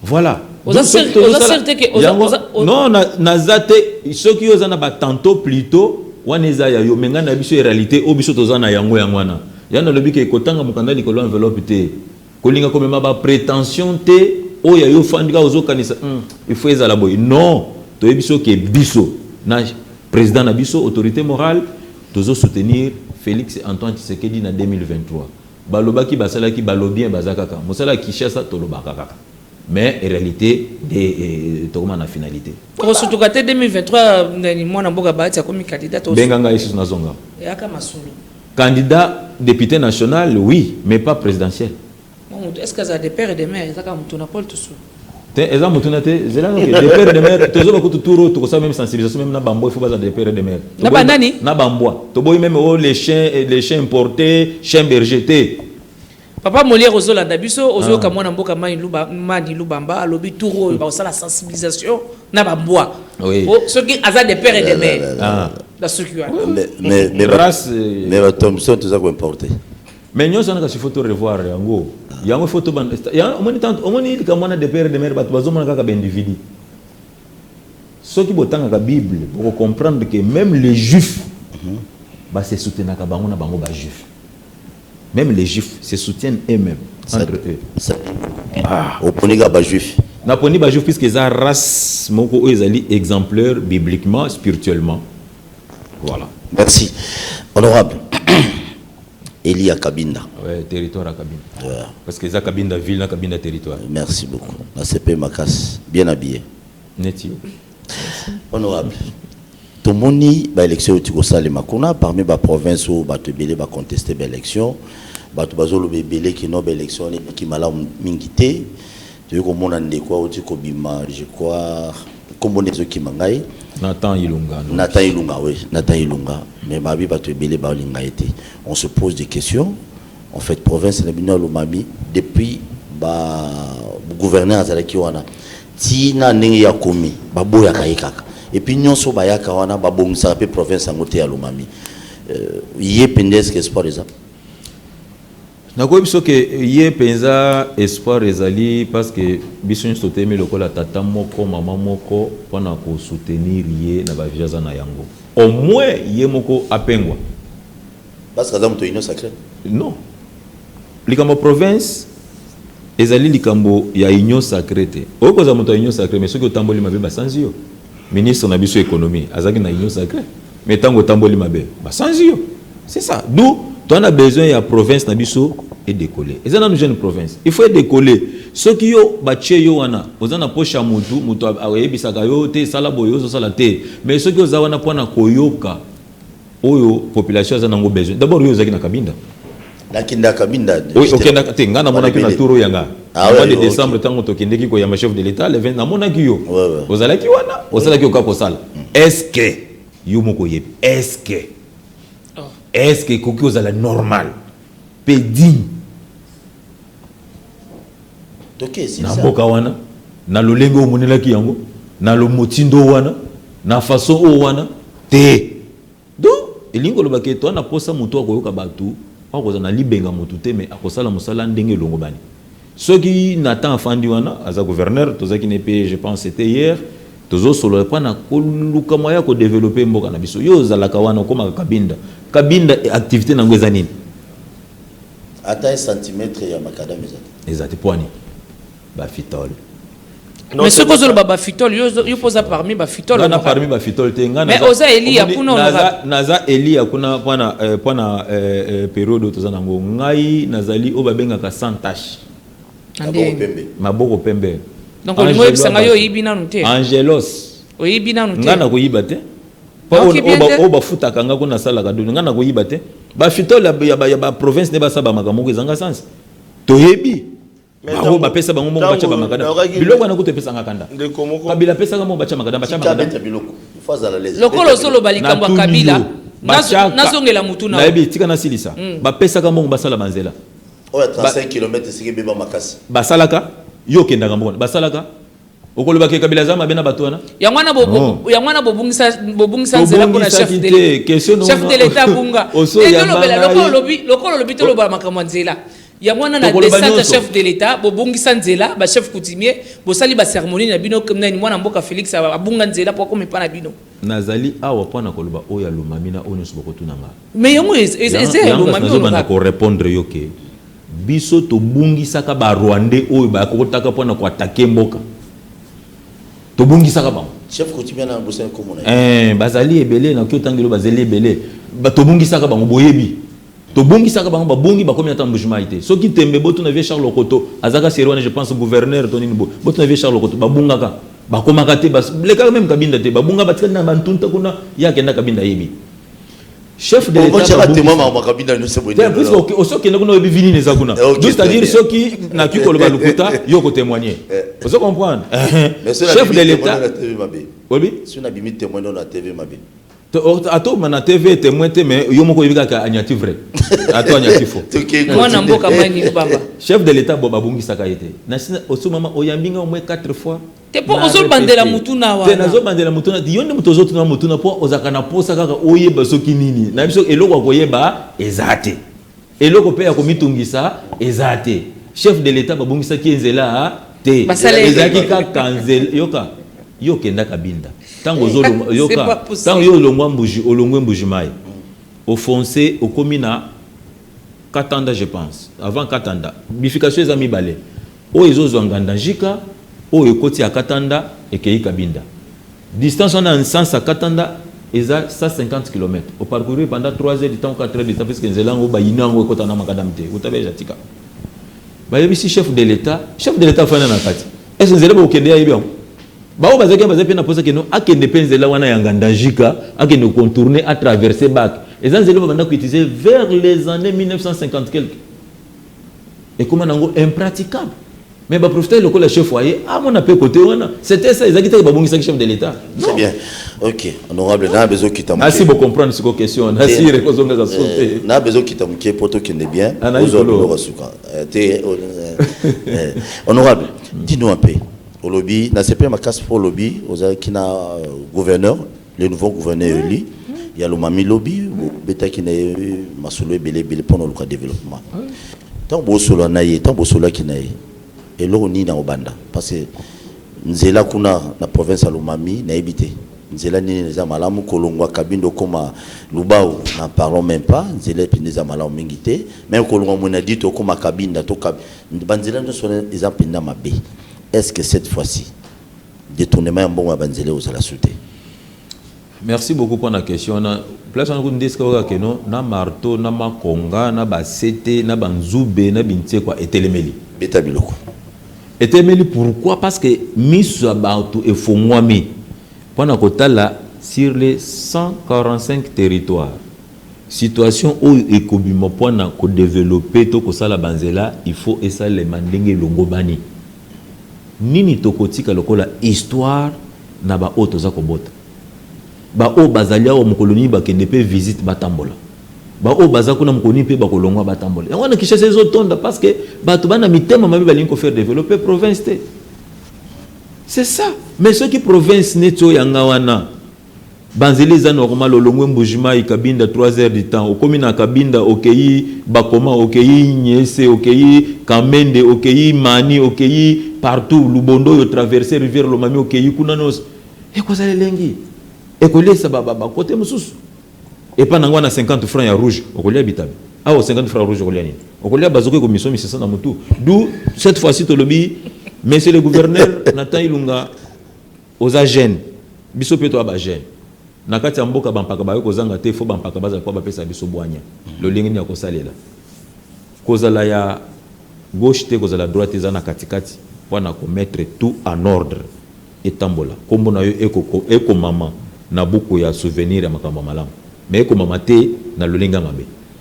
Voilà. Oza Donc, sûr- soki tozosala- oza sûr te que oza- yango- oza- o- non na- naza te soki yo oza na batento plutot wana eza ya yo me ngai na biso ya réalité oyo biso toza na yango yango wana ya nalobi ke kotanga mokanda likolo ya enveloppe te kolinga komema baprétention te oyo ya yo ofandi kaka ozokanisa "Hmm, il faut ezala boye non toyebi biso ke biso na président na biso autorité morale tozosoutenir félix antoine tshisekedi na 2023 Balobaki basalaki balobien baza kaka mosala ya kishasa tolobaka kaka mais realite nde tokoma na finalite. Tokosutuka te 2023 mwana mboka bahati akomi candidat tokosutuka. Benga ngai lisusu nazonga. Yaka masolo. Candidat député national oui mais pas présidentiel. Est-ce que azala de père et de mère ezaka mutu na pole tusu. Te eza motuna te zela noke de père de mère tozoba kutu tour oyo tokosala meme sensibilisation meme na bambwa ifo baza de père de mère na banani na bambwa toboyi meme o oh, les chiens eh, les chiens importés chien berger te papa molière ozolanda biso ozoyoka ah. mwana mboka mani luba mani lubamba alobi tour oyo bakosala sensibilisation na bambwa oh, soki aza de père et de mère na soki wana mais bato mosusu toza koimporte Mais nionso wana kasi faut to revoir yango. Yango faut to banda yango omoni tant omoni likambo wana de père de mère bato bazomona kaka ba individu. Soki botangaka Bible boko comprendre que même les juifs mhm. ba se soutenaka bango na bango ba juifs. Même les juifs se soutiennent eux-mêmes entre eux. Ah, oponi kaka ba juifs. Naponi ba juifs puisque eza race moko oyo ezali exemplaire bibliquement, spirituellement. Voilà. Merci. Honorable Eli ya Kabinda. Ouais, territoire ya Kabinda. Yeah. Parce que eza Kabinda ville na Kabinda territoire. Merci beaucoup. Na CP Makas, bien habillé. Neti. Honorable. Tomoni ba élection tu kosale makuna parmi ba province ou ba tebele ba contester ba élection. Ba tu bazolo bebele ki no ba élection ni ki malamu mingi te. Toye komona ndeko awuti kobima je crois kombo nde ezokima ngai. Nathan Ilunga. Nathan Ilunga oui Nathan Ilunga mais babi batu ebele balinga ye te on se pose des questions en fait province na bino ya Lomami depuis ba gouverneur azalaki wana ti na ndenge ye akomi baboyaka ye kaka et puis nionso bayaka wana babongisaka pe province yango te ya Lomami euh, ye pende espoir eza Nakoki biso ke ye penza espoir ezali parce que biso nyoso totelemi lokola tata moko maman moko pona ko soutenir ye na ba vie aza na yango au moins ye moko apengwa. Parce que aza moto ya union sacree? Non likambo ya province ezali likambo ya union sacree te. Okoki kozala moto ya union sacree mais soki otamboli mabe basanzi yo. Ministre na biso ya economie azalaki na union sacree mais tango otamboli mabe ba sanzi yo c'est ça d'où toza na besoin ya province na biso e decoller eza nanu jeune province il faut e decoller soki yo batie yo wana oza na poche ya mutu mutu ayebisaka yo te sala boye ozo sala te mais soki oza wana pona koyoka oyo population aza nango besoin d'abord yo ozalaki na kabinda nakenda kabinda oui okendaka te ngai namonaki na turo ya ngai ah mois de décembre ntango tokendeki koyamba chef de l'état le 20 namonaki yo ozalaki wana osalaki oka kosala mm. est-ce que yo moko oyebi est-ce que oh. est-ce que ekoki kozala normal mpe digne na mboka wana na lolenge oyo omonelaki yango na lomotindo wana na façon oyo wana te donc elingi koloba ke toa na mposa motu akoyoka bato akozala na libenga motu te me akosala mosala ndenge elongobani soki na temps afandi wana aza gouverneur tozalaki ne mpe je pense ete hier tozosolola mpo na koluka mwa ya kodevelope mboka na biso yo ozalaka wana okomaka kabinda kabinda activité na yango eza nini Ata un centimetre ya macadam eza te. Eza te pwani ba fitol. Mais soki ozo loba ba fitol yo yo poza parmi ba fitol. Nga na parmi ba fitol te nga na. Mais oza Elia kuna oza. Naza naza Elia kuna pwana euh, pwana euh, euh, periode toza nango ngai nazali oyo babengaka sans tache. Maboko pembe. Maboko pembe. Donc olingo yebisa ngai yo oyibi nanu te. Angelos. Oyibi nanu te. Nga na koyiba te. oyo bafutaka nga ko nasalaka doni nga nakoyiba te bafitole ya baprovince nde basala bamaka moko ezanga sansi toyebi bango bapesa bango moko batya bamakada biloko wana kutu epesanga kanda kabila apesaka moko batya makada batya makada lokola ozoloba likambo ya kabila nazongela motu nayebi tika nasilisa hmm. bapesaka mbongo basala banzela oyo 35 km esika ebeba makasi basalaka yo okendaka mbongo basalaka Okoloba ke Kabila aza mabe na bato wana? Yango wana bo yango wana bobungisa bobungisa nzela pona chef de l'État. Chef de l'État bunga. Te tolobela lokola olobi lokola olobi toloba makambo ya nzela. Yango wana na descente ya chef de l'État bobungisa nzela ba chef coutumier bosali ba ceremonie na bino nani mwana mboka Felix abunga nzela po akoma epa na bino. Nazali awa mpo na koloba oyo ya Lomami na oyo nyonso bokotuna nga. Mais yango eza ya Lomami oyo olobaka. Nazobanda ko repondre yo que biso tobungisaka ba Rwandais oyo bakotaka mpo na ko attaquer mboka. Tobungisaka bango. Chef coutumier wana nabosani kombo na ye. Ee, bazali ebele, nakoki kotanga eloko, bazali ebele. Tobungisaka bango, boyebi. Tobongisaka bango babongi bakomi ata mbujimayi te soki tembe botuna vieux Charles okoto azaka serie wana je pense gouverneur to nini boye botuna vieux Charles okoto babungaka bakomaka te bas lekaka meme kabinda te babunga batikali na ba ntunta kuna ye akenda kabinda ayebi chef de l'etat otiaka temoin makambo kabinda nyonso boye te puisque ok osi okenda kuna oyebi vinini eza kuna donc c'est à dire soki naki koloba lokuta yo oko témoigner ozo comprendre chef de l'etat oyebi soki nabimi temoin no na tv mabe Ato mana TV temoin te mais yo moko yebi kaka anyati vrai. Ato anyati faux. Mwana mboka mai ni bamba. Chef de l'etat bo babungisaka ye te. Na sina osu mama oyambi nga au moins 4 fois. Te po ozo bandela mutuna wana. Te nazo bandela mutuna. Yo nde moto ozo tuna mutuna po ozaka na posa kaka oyeba soki nini. Na biso eloko ya koyeba eza te. Eloko pe ya komitungisa eza te. Chef de l'etat babongisaki ye nzela te. Ezalaki kaka nzela, yoka, yo okenda Kabinda, tango ozo longwa, yoka, tango yo olongwa Mbuji, olongwe Mbuji Mayi, o foncer, okomi na Katanda je pense, avant Katanda, bifurcation eza mibale. Oyo ezo zua ngandajika oyo ekoti ya katanda ekeyi kabinda distance wana ya nsansa katanda eza 150 kilomètre o parcourir pendant 3 heures du temps ou 4 heures du temps puisque nzela yango ba union yango ekota na macadam te uta beja tika bayebisi chef de l'etat chef de l'etat afanda na kati est ce nzela bokende ya yebi yango baoyo bazalaki bazali mpe na posa keno akende mpe nzela wana ya ngandajika akende contourner a traverser bac eza nzela babanda koutiliser vers les années 1950 quelque ekoma nango impraticable mais ba profiter lokola chef foyer amona pe côté wana c'était ça ezaki te babongisaki chef de l'état c'est bien ok honorable na bezo kita muke asi bo comprendre siko question na si reko zonga za sote eh, na bezo kita muke poto kende bien ah, ozo lo suka eh, te eh, eh honorable dis-nous un peu olobi na sepema casse pour olobi ozaki na euh, gouverneur Le nouveau gouverneur elu ya Lomami lobi bobetaki na ye masolo ebele ebele mpo na oluka developpement. Ntango bosolola na ye, ntango bosololaki na ye, eloko nini akobanda? Parce que nzela kuna na province ya Lomami nayebi te nzela nini eza malamu. Kolongwa Kabinda okoma Lubao n'en parlons meme pas, nzela mpenza eza malamu mingi te. Meme kolongwa Mweneditu okoma Kabinda to banzela nyonso wana eza mpenza mabe. Est-ce que cette fois-ci, detournement ya mbongo ya ba nzela ekozala sous te. Merci beaucoup pona question wana place wana kutu nde esika oyoka ke no na marteau na makonga na ba sete na ba nzube na binsekwa etelemeli beta biloko etelemeli pourquoi parce que miso ya bato efongwami mpo na kotala sur les 145 territoires situation oyo ekobima mpo na kodevelope to kosala banzela il faut esalema ndenge elongobani Nini tokotika lokola histoire na ba oyo toza kobota? Ba oyo bazali awa mokolo nini bakende pe visite batambola. Ba oyo baza kuna mokolo nini pe bakolongwa batambola. Yango wana Kinshasa ezo tonda parce que batu bana mitema mabe balingi ko faire developper province te. C'est ça. Mais soki province neti oyo ya nga wana, Ba nzela eza normal olongwe mbuji mayi cabinda trois heures du temps okomi na cabinda okeyi bakoma okeyi nyese okeyi kamende okeyi mani okeyi partout lubondo oyo traverse rivière lomami okeyi kuna nionso ekozala elengi ekoliesa ba ba cote mususu epa nango wana 50 francs ya rouge okolia bitabe awa 50 francs ya rouge okolia nini okolia bazoka ekomiso misisa na mutu d'où cette fois ci tolobi monsieur le gouverneur Nathan Ilunga Oza jeune biso pe toa ba jeune nakati ya mboka ba mpaka bakoki kozanga te faut ba mpaka bazala po bapesa biso bwanya lolenge nini ya kosalela kozala ya gauche te kozala droite te za na kati kati po na ko mettre tout en ordre etambola kombo na yo eko ekomama na buku ya souvenir ya makambo ya malamu mais ekomama te na lolenge ya mabe.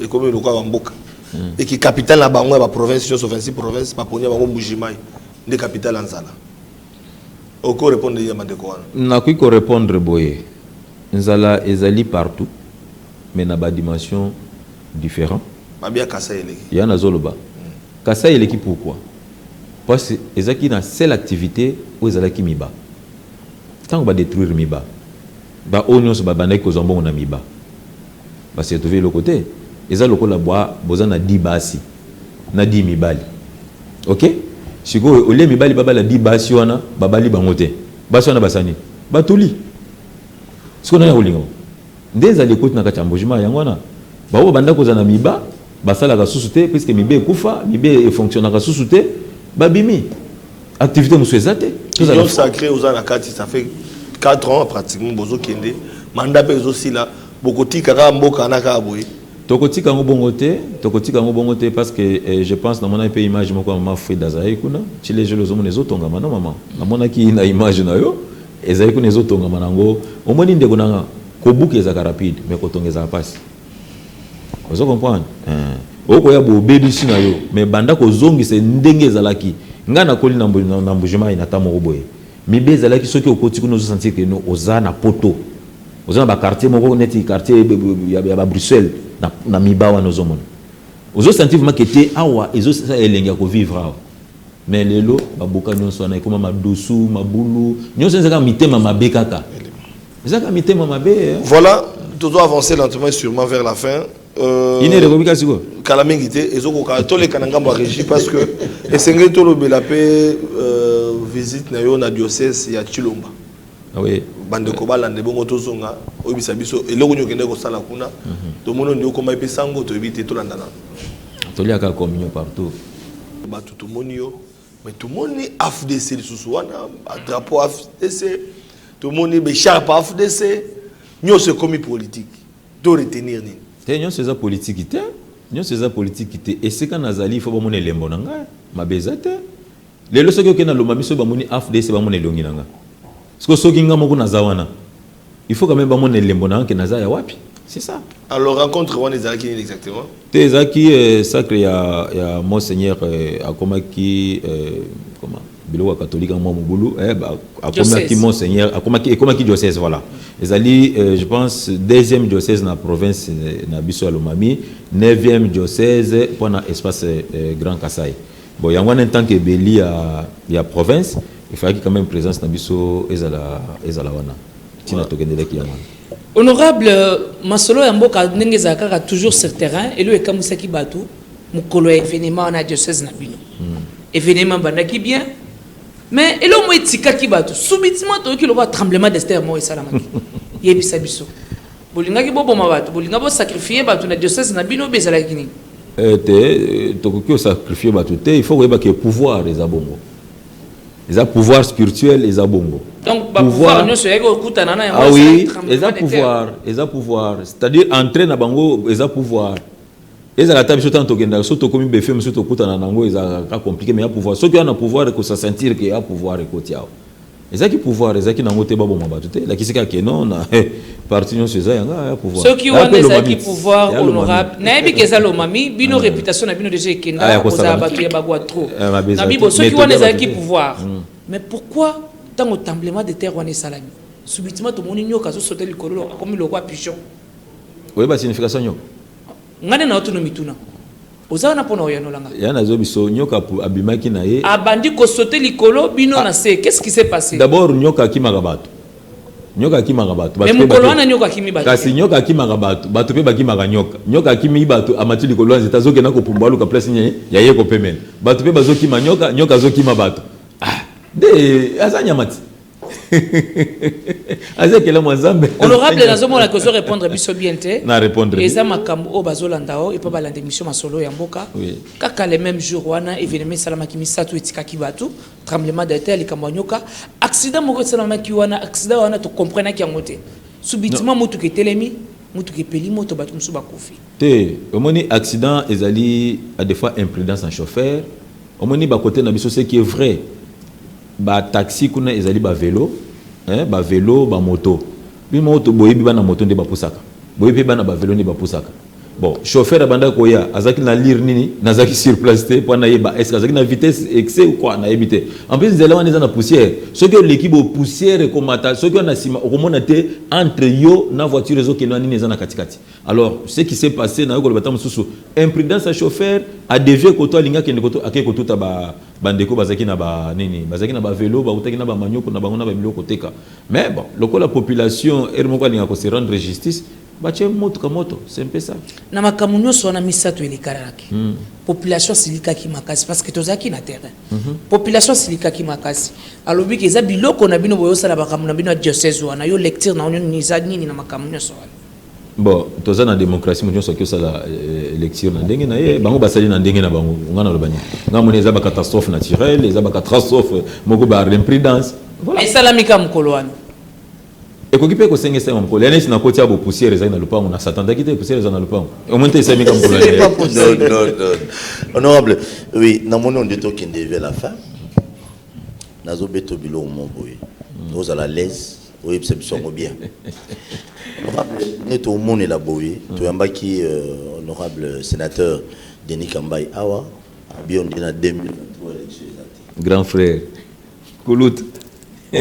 ekomi lokola ba mboka et ki capitale na bango ya ba province nyonso 26 province baponi ya bango mbujimai nde capitale ya nzala oko répondre ye mandeko wana nakoki ko répondre boye nzala ezali partout mais na ba dimension différent mabe ya kasa eleki ya nazoloba mm. kasa eleki pourquoi parce ezalaki na seule activité oyo ezalaki miba ntango badétruire miba Ba oyo nionso ba bandaki kozwa mbongo na miba ba se retrouver eloko te eza lokola bwa boza na dix basi na dix mibali ok sikoyo au lieu mibali ba bala dix basi wana ba bali bango te basi wana ba sa nini ba tuli sikoyo nani akolinga bango nde ezali ekoti na kati ya mbujimay yango wana bango ba bandaki kozwa na miba Basalaka susu te puisque mibe ekufa, mibe e fonctionnaka susu te, babimi. Activite mosusu eza te. Union sacree oza na kati ça fait 4 ans pratiquement bozo kende mandat pe ezo sila bokotika kaka mboka wana kaka boye. Tokotika yango bongo te, tokotika yango bongo te parce que eh, je pense namonaki pe image moko ya maman Frida azalaki kuna, chile jelo ozomona ezotongama na maman. Namonaki na image na yo ezali kuna ezotongama nango. Omoni ndeko nanga kobuka ezalaka rapide mais kotonga ezalaka pasi. Ozo comprendre? Eh. Okoya bo obebisi na yo, mais banda kozongisa ndenge ezalaki. Nga nakoli na na Mbujimayi na temps moko boye. Mibe ezalaki soki okoti kuna ozo sentir que no oza na poto. Oza na ba quartier moko neti quartier ya ba Bruxelles na na miba wana ozo mona. Ozo sentir vraiment que te awa ezo sala elengi ya ko vivre awa. Mais lelo ba boka nionso wana ekoma madusu, mabulu, nionso eza kaka mitema mabe kaka. Eza ka mitema mabe. Eh. Voilà, tu dois avancer lentement et sûrement vers la fin. Euh, ine ekomi kasi ko kala mingi te ezokoka toleka na ngambo ya régie parce que esengeli tolobela mpe euh, visite na yo na diocèse ya chilomba ah oui. bandeko balanda ebongo tozonga oyebisa biso eloko nini okende kosala kuna mhm. tomoni ondi okomaki mpe sango toyebi te tolandana toliaka communion partout bato tomoni yo Mais tout monde ni AFDC lisusu wana ba drapeau AFDC tout le monde be sharp AFDC nyoso ekomi politique to retenir nini te nyoso eza politique te nyoso eza politique te esika nazali ifo bamona elembo na ngai mabe eza te lelo soki okei na lomba biso bamoni afdc bamona elongi na ngai siko soki ngai moko naza wana Il faut quand meme ba mona elembo na yo que naza ya wapi. C'est ça. Alors rencontre wana ezalaki nini exactement? Te ezalaki euh, sacre ya ya monseigneur euh, akomaki euh, comment biloko ya catholique yango mwa mobulu eh, ba- akomaki Diocèse. monseigneur akomaki ekomaki diocèse voilà ezali euh, je pense deuxième diocèse na province euh, na biso ya lomami neuvième diocèse mpo na espace euh, grand kasai Bon yango wana en tant que beli ya ya province il fallaki quand meme presence na biso ezala ezala wana tina tokendelaki yango wana. Honorable, masolo ya mboka ndenge ezala kaka toujours sur terrain eloko ekamwisaki batu mokolo ya evenement wana ya diocèse na bino. Evenement ebandaki bien mais eloko moko etikaki batu subitement toyoki lokola tremblement de terre moko esalamaki. Yebisa biso. Bolingaki boboma batu, bolinga bo sacrifier batu na diocèse na bino oyo ezalaki nini? Eh te, tokoki ko sacrifier batu te, il faut koyeba ke pouvoir eza bongo. Eza pouvoir spirituel eza bongo. Donc ba pouvoir nionso yaki okutana na yango. Ah oui, eza pouvoir, eza pouvoir, c'est-à-dire entrer na bango eza pouvoir. Ezala ata biso tango tokendaka soki tokomi befe mosusu tokutana na yango ezalaka kaka compliqué mais ya pouvoir soki oya na pouvoir ekosa sentir ke ya pouvoir ekoti awa ezalaki pouvoir ezalaki na yango te baboma bato te elakisi kaka ke non na eh, parti nyonso eza yanga ya pouvoir soki Aya wana mpe ezalaki Lomami. pouvoir Ya Lomami. honorable nayebi ke eza lomami bino reputation na bino deja Ah, ya ekenda kosala kozala na- bato ya bagwa trop Eh, mabe eza na bibo te. soki Methode wana ya ezalaki bato te. pouvoir mais pourquoi ntango tremblement de terre wana esalami subitement tomoni nyoka azosota likolo akomi lokwa pigeon oyeba signification nyoko Nga nde naotuna mituna. Oza wana pona oyanola nga. Ya nazo biso nyoka abimaki na ye. Abandi ko sauter likolo bino ah. na se. Qu'est-ce qui s'est passé? D'abord nyoka akimaka bato. Nyoka akimaka bato. Mais mukolo wana nyoka akimi bato. Kasi nyoka akimaka bato. Bato pe bakimaka nyoka. Nyoka akimi bato amati likolo nzete azo kenda ko pumbwa luka place nye ya ye ko pemela. Bato pe bazo kima nyoka, nyoka azo kima bato. Ah, de aza nyamati. aza ekelamu ya nzambe honorable nazomona ke ozo répondre biso bien te na répondre eza makambo oyo bazolanda o epa balanda émission masolo ya mboka kaka le même jour wana événement esalamaki misato etikaki bato tremblement de terre likambo ya nyoka accident moko esalamaki wana accident wana tocomprenaki yango te subitement motuka etelemi motuka epeli moto bato mosusu bakufi te omoni accident ezali à des fois imprudence na chauffeur omoni bakote na biso ce qui est vrai Ba taxi kuna ezali ba velo eh ba velo ba moto bino moko to boyebi bana moto nde bapusaka boye pe bana ba velo nde bapusaka bon chauffeur abandaki koya azalaki na lire nini nazalaki sur place te po nayeba est ce que azalaki na vitesse excès ou quoi nayebi te en plus nzela wana eza na poussière soki oleki bo poussière ekomata soki wana na sima okomona te entre yo na voiture ezokende wana nini eza na katikati alors ce qui s'est passé nayo koloba ta mosusu imprudence ya chauffeur a devie koto alingi akende koto akei kotuta ba Bandeko bazalaki na ba nini? Bazalaki na ba velos, bawutaki na ba manioko na bango na ba biloko koteka. Mais bon, lokola population heure moko alinga ko se rendre justice, batie motuka moto. C'est un peu ça. Na makambo nionso wana misatu elekanaki, population asilikaki makasi parce que tozalaki na terrain. Population asilikaki makasi, alobi que eza biloko na bino boyosala makambo na bino ya diocèse wana. Yo lecture na yo nini eza nini na makambo nionso wana? Bon, toza na democratie moto nyonso akosala lecture na ndenge na ye bango basali na ndenge na bango nga naloba nini nga moni eza bacatastrophe naturelle eza bacatastrophe moko ba imprudence voilà. esalami ka mokolo wana ekoki mpe kosengesa yango mokolo ya neti na koti ya bopusiere ezali na lopango na satandaki te pusiere eza na lopango omoni te esalami ka mokolo honorable oui namoni onde tokende vers la fin nazobeto biloko moko boye ozala laise Oyebisa biso yango bien. Honorable, ne to monela boye, mm. to yambaki euh, honorable sénateur Denis Kambayi awa, abion dina 2023 élection ezati. Grand frère. Koulout. Oh.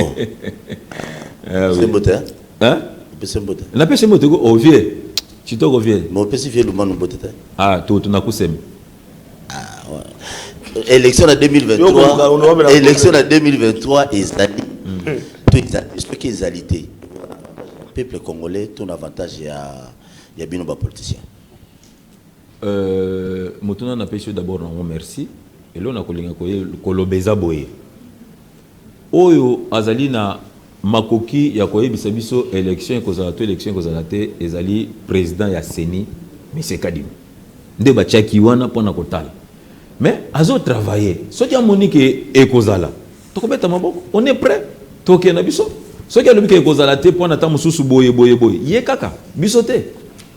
ah, oui. C'est beau, hein? Hein? Pese mbote. Na pese mbote ko ovie. Chitoko vie. Mo pese vie lumanu mbote te. Ah, to tunakusema. Ah, élection na 2023 élection na 2023 ezali to ezali soki ezali te peuple congolais to na avantage ya ya bino ba politiciens euh motuna na pesi d'abord na merci elo na kolinga ko koloba eza boye Oyo azali na makoki ya koyebisa biso election ekozala to election ekozala te ezali president ya ceni monsieur Kadima nde batiaki wana pona kotala mais azo travailler soki amoni ke ekozala tokobeta maboko on est pret tokende na biso soki alobi ke ekozala te pona ta mosusu boye boye boye ye kaka biso te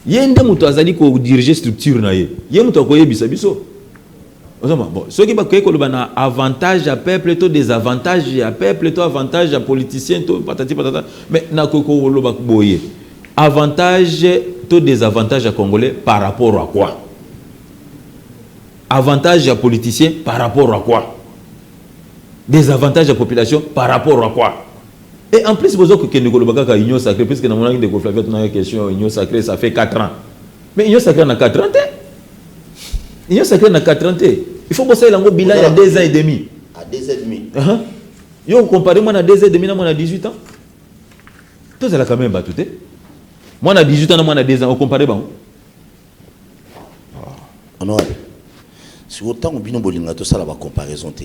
ye nde moto azali ko diriger structure na ye ye moto akoyebisa biso Ozo mona bon soki bakoki koloba na avantage ya peuple to desavantage ya peuple to avantage ya politicien to patati patata mais nakoki koloba boye avantage to desavantage ya congolais par rapport à quoi avantage ya politicien par rapport à quoi desavantage ya population par rapport à quoi et en plus boza kokende koloba kaka union sacrée puisque namonaki ndeko flavia tunaka question union sacrée ça fait 4 ans Mais union sacrée na 4 ans te. Union sacrée na 4 ans te. Il faut bosser lango bilan il y a 2 ans et demi. À 2 ans et demi. Uh -huh. Yo comparé moi na 2 ans et demi na moi na 18 ans. Tous à la quand même battu te. Moi na 18 ans na moi na 2 ans, au comparé bango. Ah. Honorable. Si autant bino bolinga to sala ba comparaison te.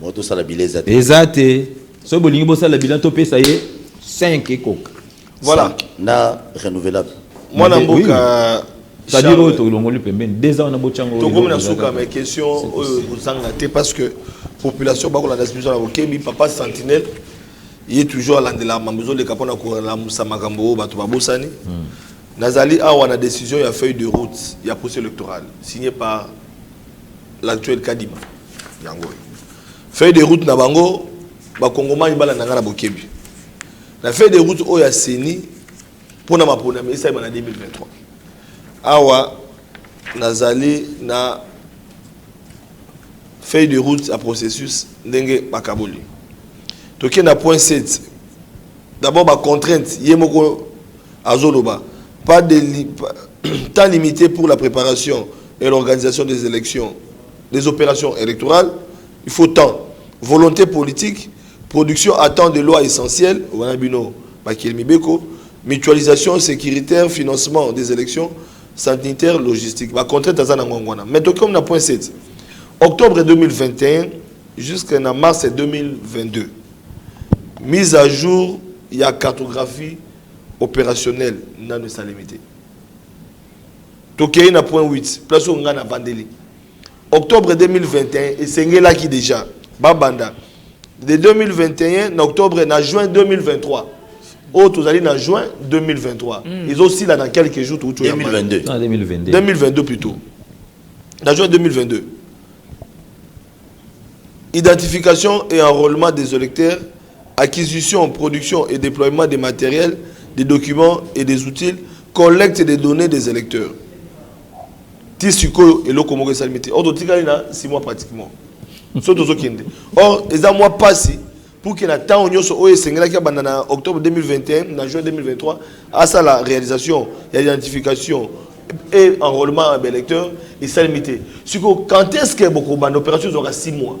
Moto osala bilan eza te. Eza te. Soki bolingi bosala bilan topesa ye 5 ekoka. Voilà. Na renouvelable. Mwana mboka c'est-à-dire oyo tolongoli pembeni deux ans wana botyango tokomi na suka mais question oyo kozanga te parce que population bakolanda biso na bokebi papa sentinelle ye toujours alandela mambo ezoleka mpo na kolamusa makambo oyo bato babosani hmm. nazali awa na décision ya feuille de route ya procès électorale signé par L'actuel Kadima yango oyo feuille de route na bango bakongomani balanda ngai na bokebi na feuille de route oyo ya CENI mpo na maponami esalema na 2023 awa nazali na feuille de route ya processus ndenge bakaboli tokenda point 7 D'abord ba contraintes ye moko azoloba pas de temps limité pour la préparation et l'organisation des élections des opérations électorales il faut temps volonté politique production à temps de loi essentielle wana bino bakeli mibeko mutualisation sécuritaire financement des élections sanitaire logistique ba contraintes aza na ngongo wana mais tokomi na point 7 octobre 2021 jusqu'à mars 2022 Mise à jour ya cartographie operationnelle nanu esalemi te. Tokeyi na point huit, place oyo ngai navandeli. Octobre 2021, esengelaki dejà babanda de 2021 na octobre na juin 2023 oyo tozali na juin 2023 mm. ezosila na quelques jours toutu 2022. 2022 ah, plutôt na juin 2022 Identification et enrolement des electeurs, acquisition, production et deploiement des materiels, des documents et des outils, collecte des donnees des electeurs. ti sikoyo eloko moko esalemi te or totikali na six mois pratiquement so tozokende or eza mwa mpasi pour que na ntango nyonso oyo esengelaki abanda na octobre 2021 na juin 2023 asala réalisation ya identification et enrôlement ya baélecteur esalemi te sikoyo quand est ce que bokobanda opération ezwaka 6 mois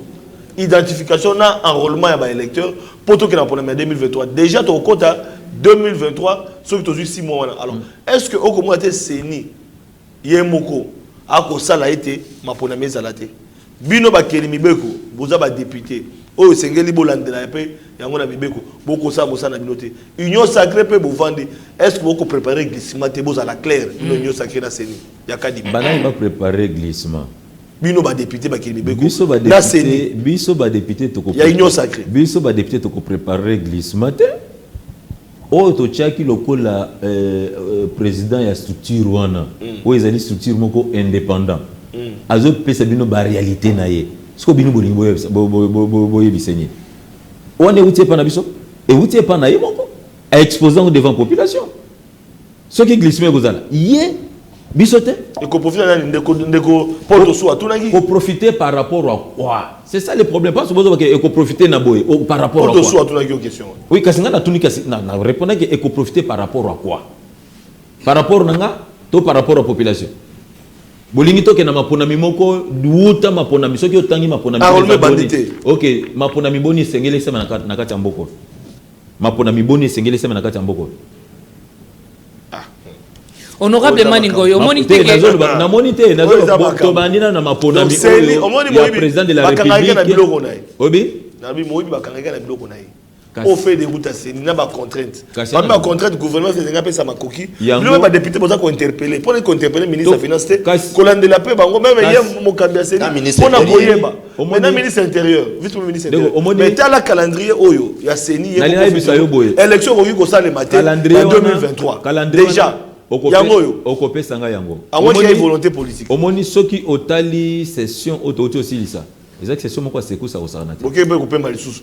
identification na enrôlement ya baélecteur mpo tokenda na problème ya 2023 déjà tokokota 2023 soki tozwi 6 mois wana alors mm. est ce que okomona te ceni Ye moko akosala ete maponami ezala te. Bino bakeli mibeko, boza ba deputes oyo esengeli bolandela ya pe yango na mibeko, bokosala mosala na bino te. Union sacree pe bovandi, est ce que boko preparer glissement te? Bozala clair bino union sacree na ceni ya kadima. Ba nani ba preparer glissement? Bino ba deputes bakeli mibeko na ceni ya union sacree. Biso ba deputes toko preparer glissement te. Oyo totiaki lokola president ya structure wana oyo ezali structure moko independant azo pesa bino ba realite na ye sikoyo bino bolingi boyebisa nini? Wana ewuti epa na biso? Ewuti epa na ye moko a expose yango devant population. Soki glissement ekozala ye biso te. Ekoprofita nani ndeko ndeko Paul Tosu atunaki. Koprofite par rapport à quoi? C'est ça le problème. Parce que bozo bake ekoprofite na boye oh, par rapport à quoi? Paul Tosu atunaki yo question. Oui, kasi nga natuni kasi na, na répondaki ekoprofite par rapport à quoi? Par rapport na nga to par rapport à population? bolingi tokenda maponami moko wuta maponami soki otangi maponami ah, ok maponami boni esengeli esema na kati ya mboko Maponami boni esengeli esalema na kati ya mboka oyo? Honorable Mani Ngoy, omoni te ke namoni te nazoloba tobandi na maponami oyo ya president de la republique obi nabi moyibi bakangaki na biloko na ye au fait de route aseni na bacontrainte parmi bacontrainte gouvernement esengi apesa makoki bino mpe badepute boza kointerpele mpo na kointerpele ministre ya finance te kolandela mpe bango meme ye mokambi aseni mpo na koyeba omona ministre intérieur vice premier ministre intérieur omoni mais tala calendrier oyo ya CENI ye nalina bisa yo boye élection ko yuko sale mate en 2023 calendrier déjà yango oyo okopesa nga yango omoni ya volonté politique omoni soki otali session oyo touti osilisa ezalaki session moko ya secousa kosala na te boke mpe kopema lisusu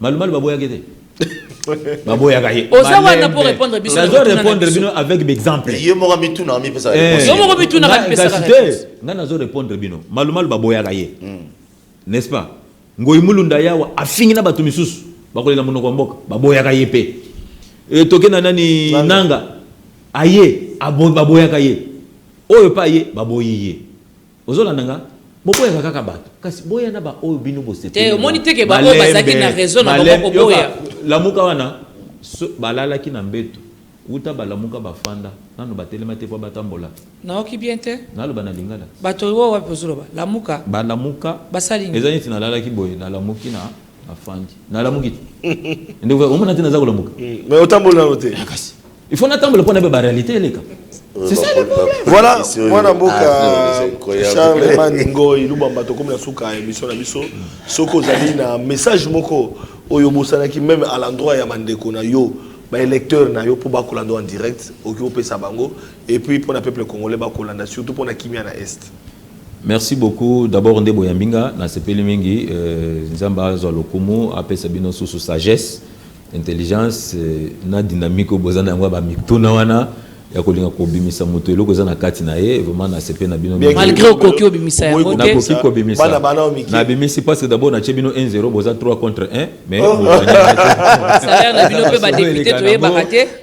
Malumalu baboyaka ye te. baboyaka ye oza wana mpo répondre biso nazo répondre bino avec bexemple ye moko mituna amipesa eh. yo moko mituna amipesaka nga nazo répondre bino malumalu baboyaka ye hmm. n'est-ce pas ngoi mulunda yawa afingi na bato misusu bakolela monoko ya mboka baboyaka ye mpe eh, toke na nani nanga aye baboyaka ye oyo mpe aye baboyi ye Ozo landa nga? Boboyaka kaka batu kasi boya na ba oyo bino bosepeli na bango. Te omoni te ke ba oyo bazalaki na raison na bango koboya. Lamuka wana balalaki na mbetu wuta ba lamuka ba fanda nanu ba telema te po ba tambola. Nayoki bien te. Naloba na lingala. Bato oyo wapi ozo loba? Lamuka. Ba lamuka. Basali nini? Eza neti nalalaki boye nalamuki na. afandi nalamuki te ndeko omona te naza kolamuka mais otamboli nano te ah, kasi il faut natambola mpo na ba réalité eleka euh, c'est ça le problème voilà mwana mboka ah, charles maningo ilubamba tokomi na suka ya émission na biso soki ozali na message moko oyo obosanaki même à l'endroit ya bandeko na yo baélecteur na yo mpo bakolanda en direct okoki kopesa bango et puis mpo na peuple congolais bakolanda surtout mpo na kimia na est Merci beaucoup d'abord nde boyambi nga nasepeli mingi nzambe azwa lokumu apesa bino susu sagesse intelligence na dynamique oyo boza na yango ya ba mituna wana ya kolinga kobimisa moto eloko eza na kati na ye vraiment nasepeli na bino malgre okoki obimisa yango te nakoki kobimisa nabimisi parce que d'abord natie bino 1 0 boza 3 contre 1 mais salaire na bino mpe ba député toyebaka te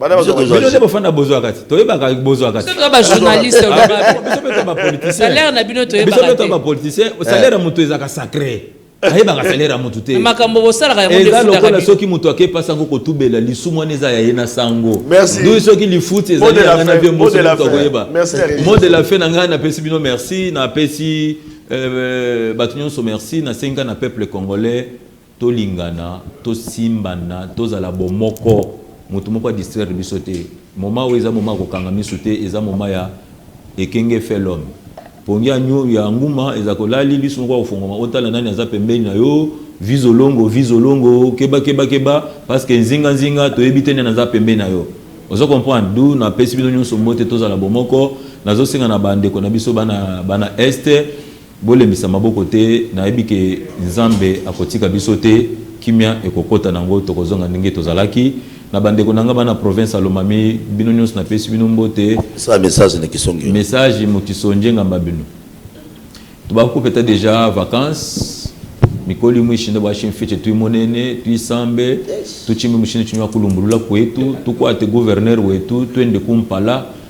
Bana Biso bato tozwa- bino nde bofanda bozwa kati toyebaka bozwa kati biso toza bajournaliste Ah, olobi biso- biso mpe to bapoliticien Salaire na bino toyebaka biso mpe to te. bapoliticien salaire ya moto ezalaka sacré ayebaka salaire ya moto te makambo bosalaka yango nde eza efutaka lokola bino soki moto ake mpasi yango kotubela lisumu wana eza ya ye na sango Merci. ndoi soki lifuti Mot de ezali la ya ngai na fin, vie mot de moso la moto fin. akoyeba Merci à tous. mo de la fin na ngai napesi bino merci napesi euh, bato nyonso merci nasengi ngai na peuple congolais Tolingana, tosimbana, tozala bomoko, mutu moko a distraire biso te, moment oyo eza moment ya kokanga misu te, eza moment ya ekenge fait l'homme, pongi ya nyu ya nguma ezalaka olali lisu moko akofonguama otala nani aza pembeni na yo, vie zolongo, vie zolongo, keba keba keba, parce que nzinga nzinga toyebi te nani aza pembeni na yo, ozo comprendre, d'où na pesi bino nionso mbote tozala bomoko, nazo senga na ba ndeko na biso bana bana est, Bolembisa maboko te nayebi ke nzambe akotika biso te kimia ekokota nango tokozonga ndenge tozalaki na bandeko nanga bana province ya lomami bino nionso na pesi bino mbote. Pesa message na kisonge. Message mu kisonge ngamba bino tobako kopeta deja vacances mikoli mwishi nde bwashi mfice twi monene twi sambe tuchimbi mushini chinywa kulumbulula kwetu tukwate gouverneur wetu twende ku mpala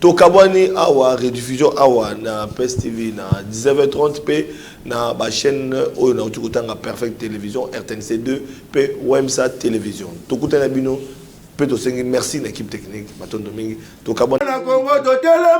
Tokabwani awa rediffusion awa na Pes TV na 19h30 pe na ba chaîne oyo na uti kotanga Perfect Television, RTNC 2 pe Wemsa Television. Tokutani na bino pe tosengi merci na equipe technique. Matondo mingi. Tokabwani.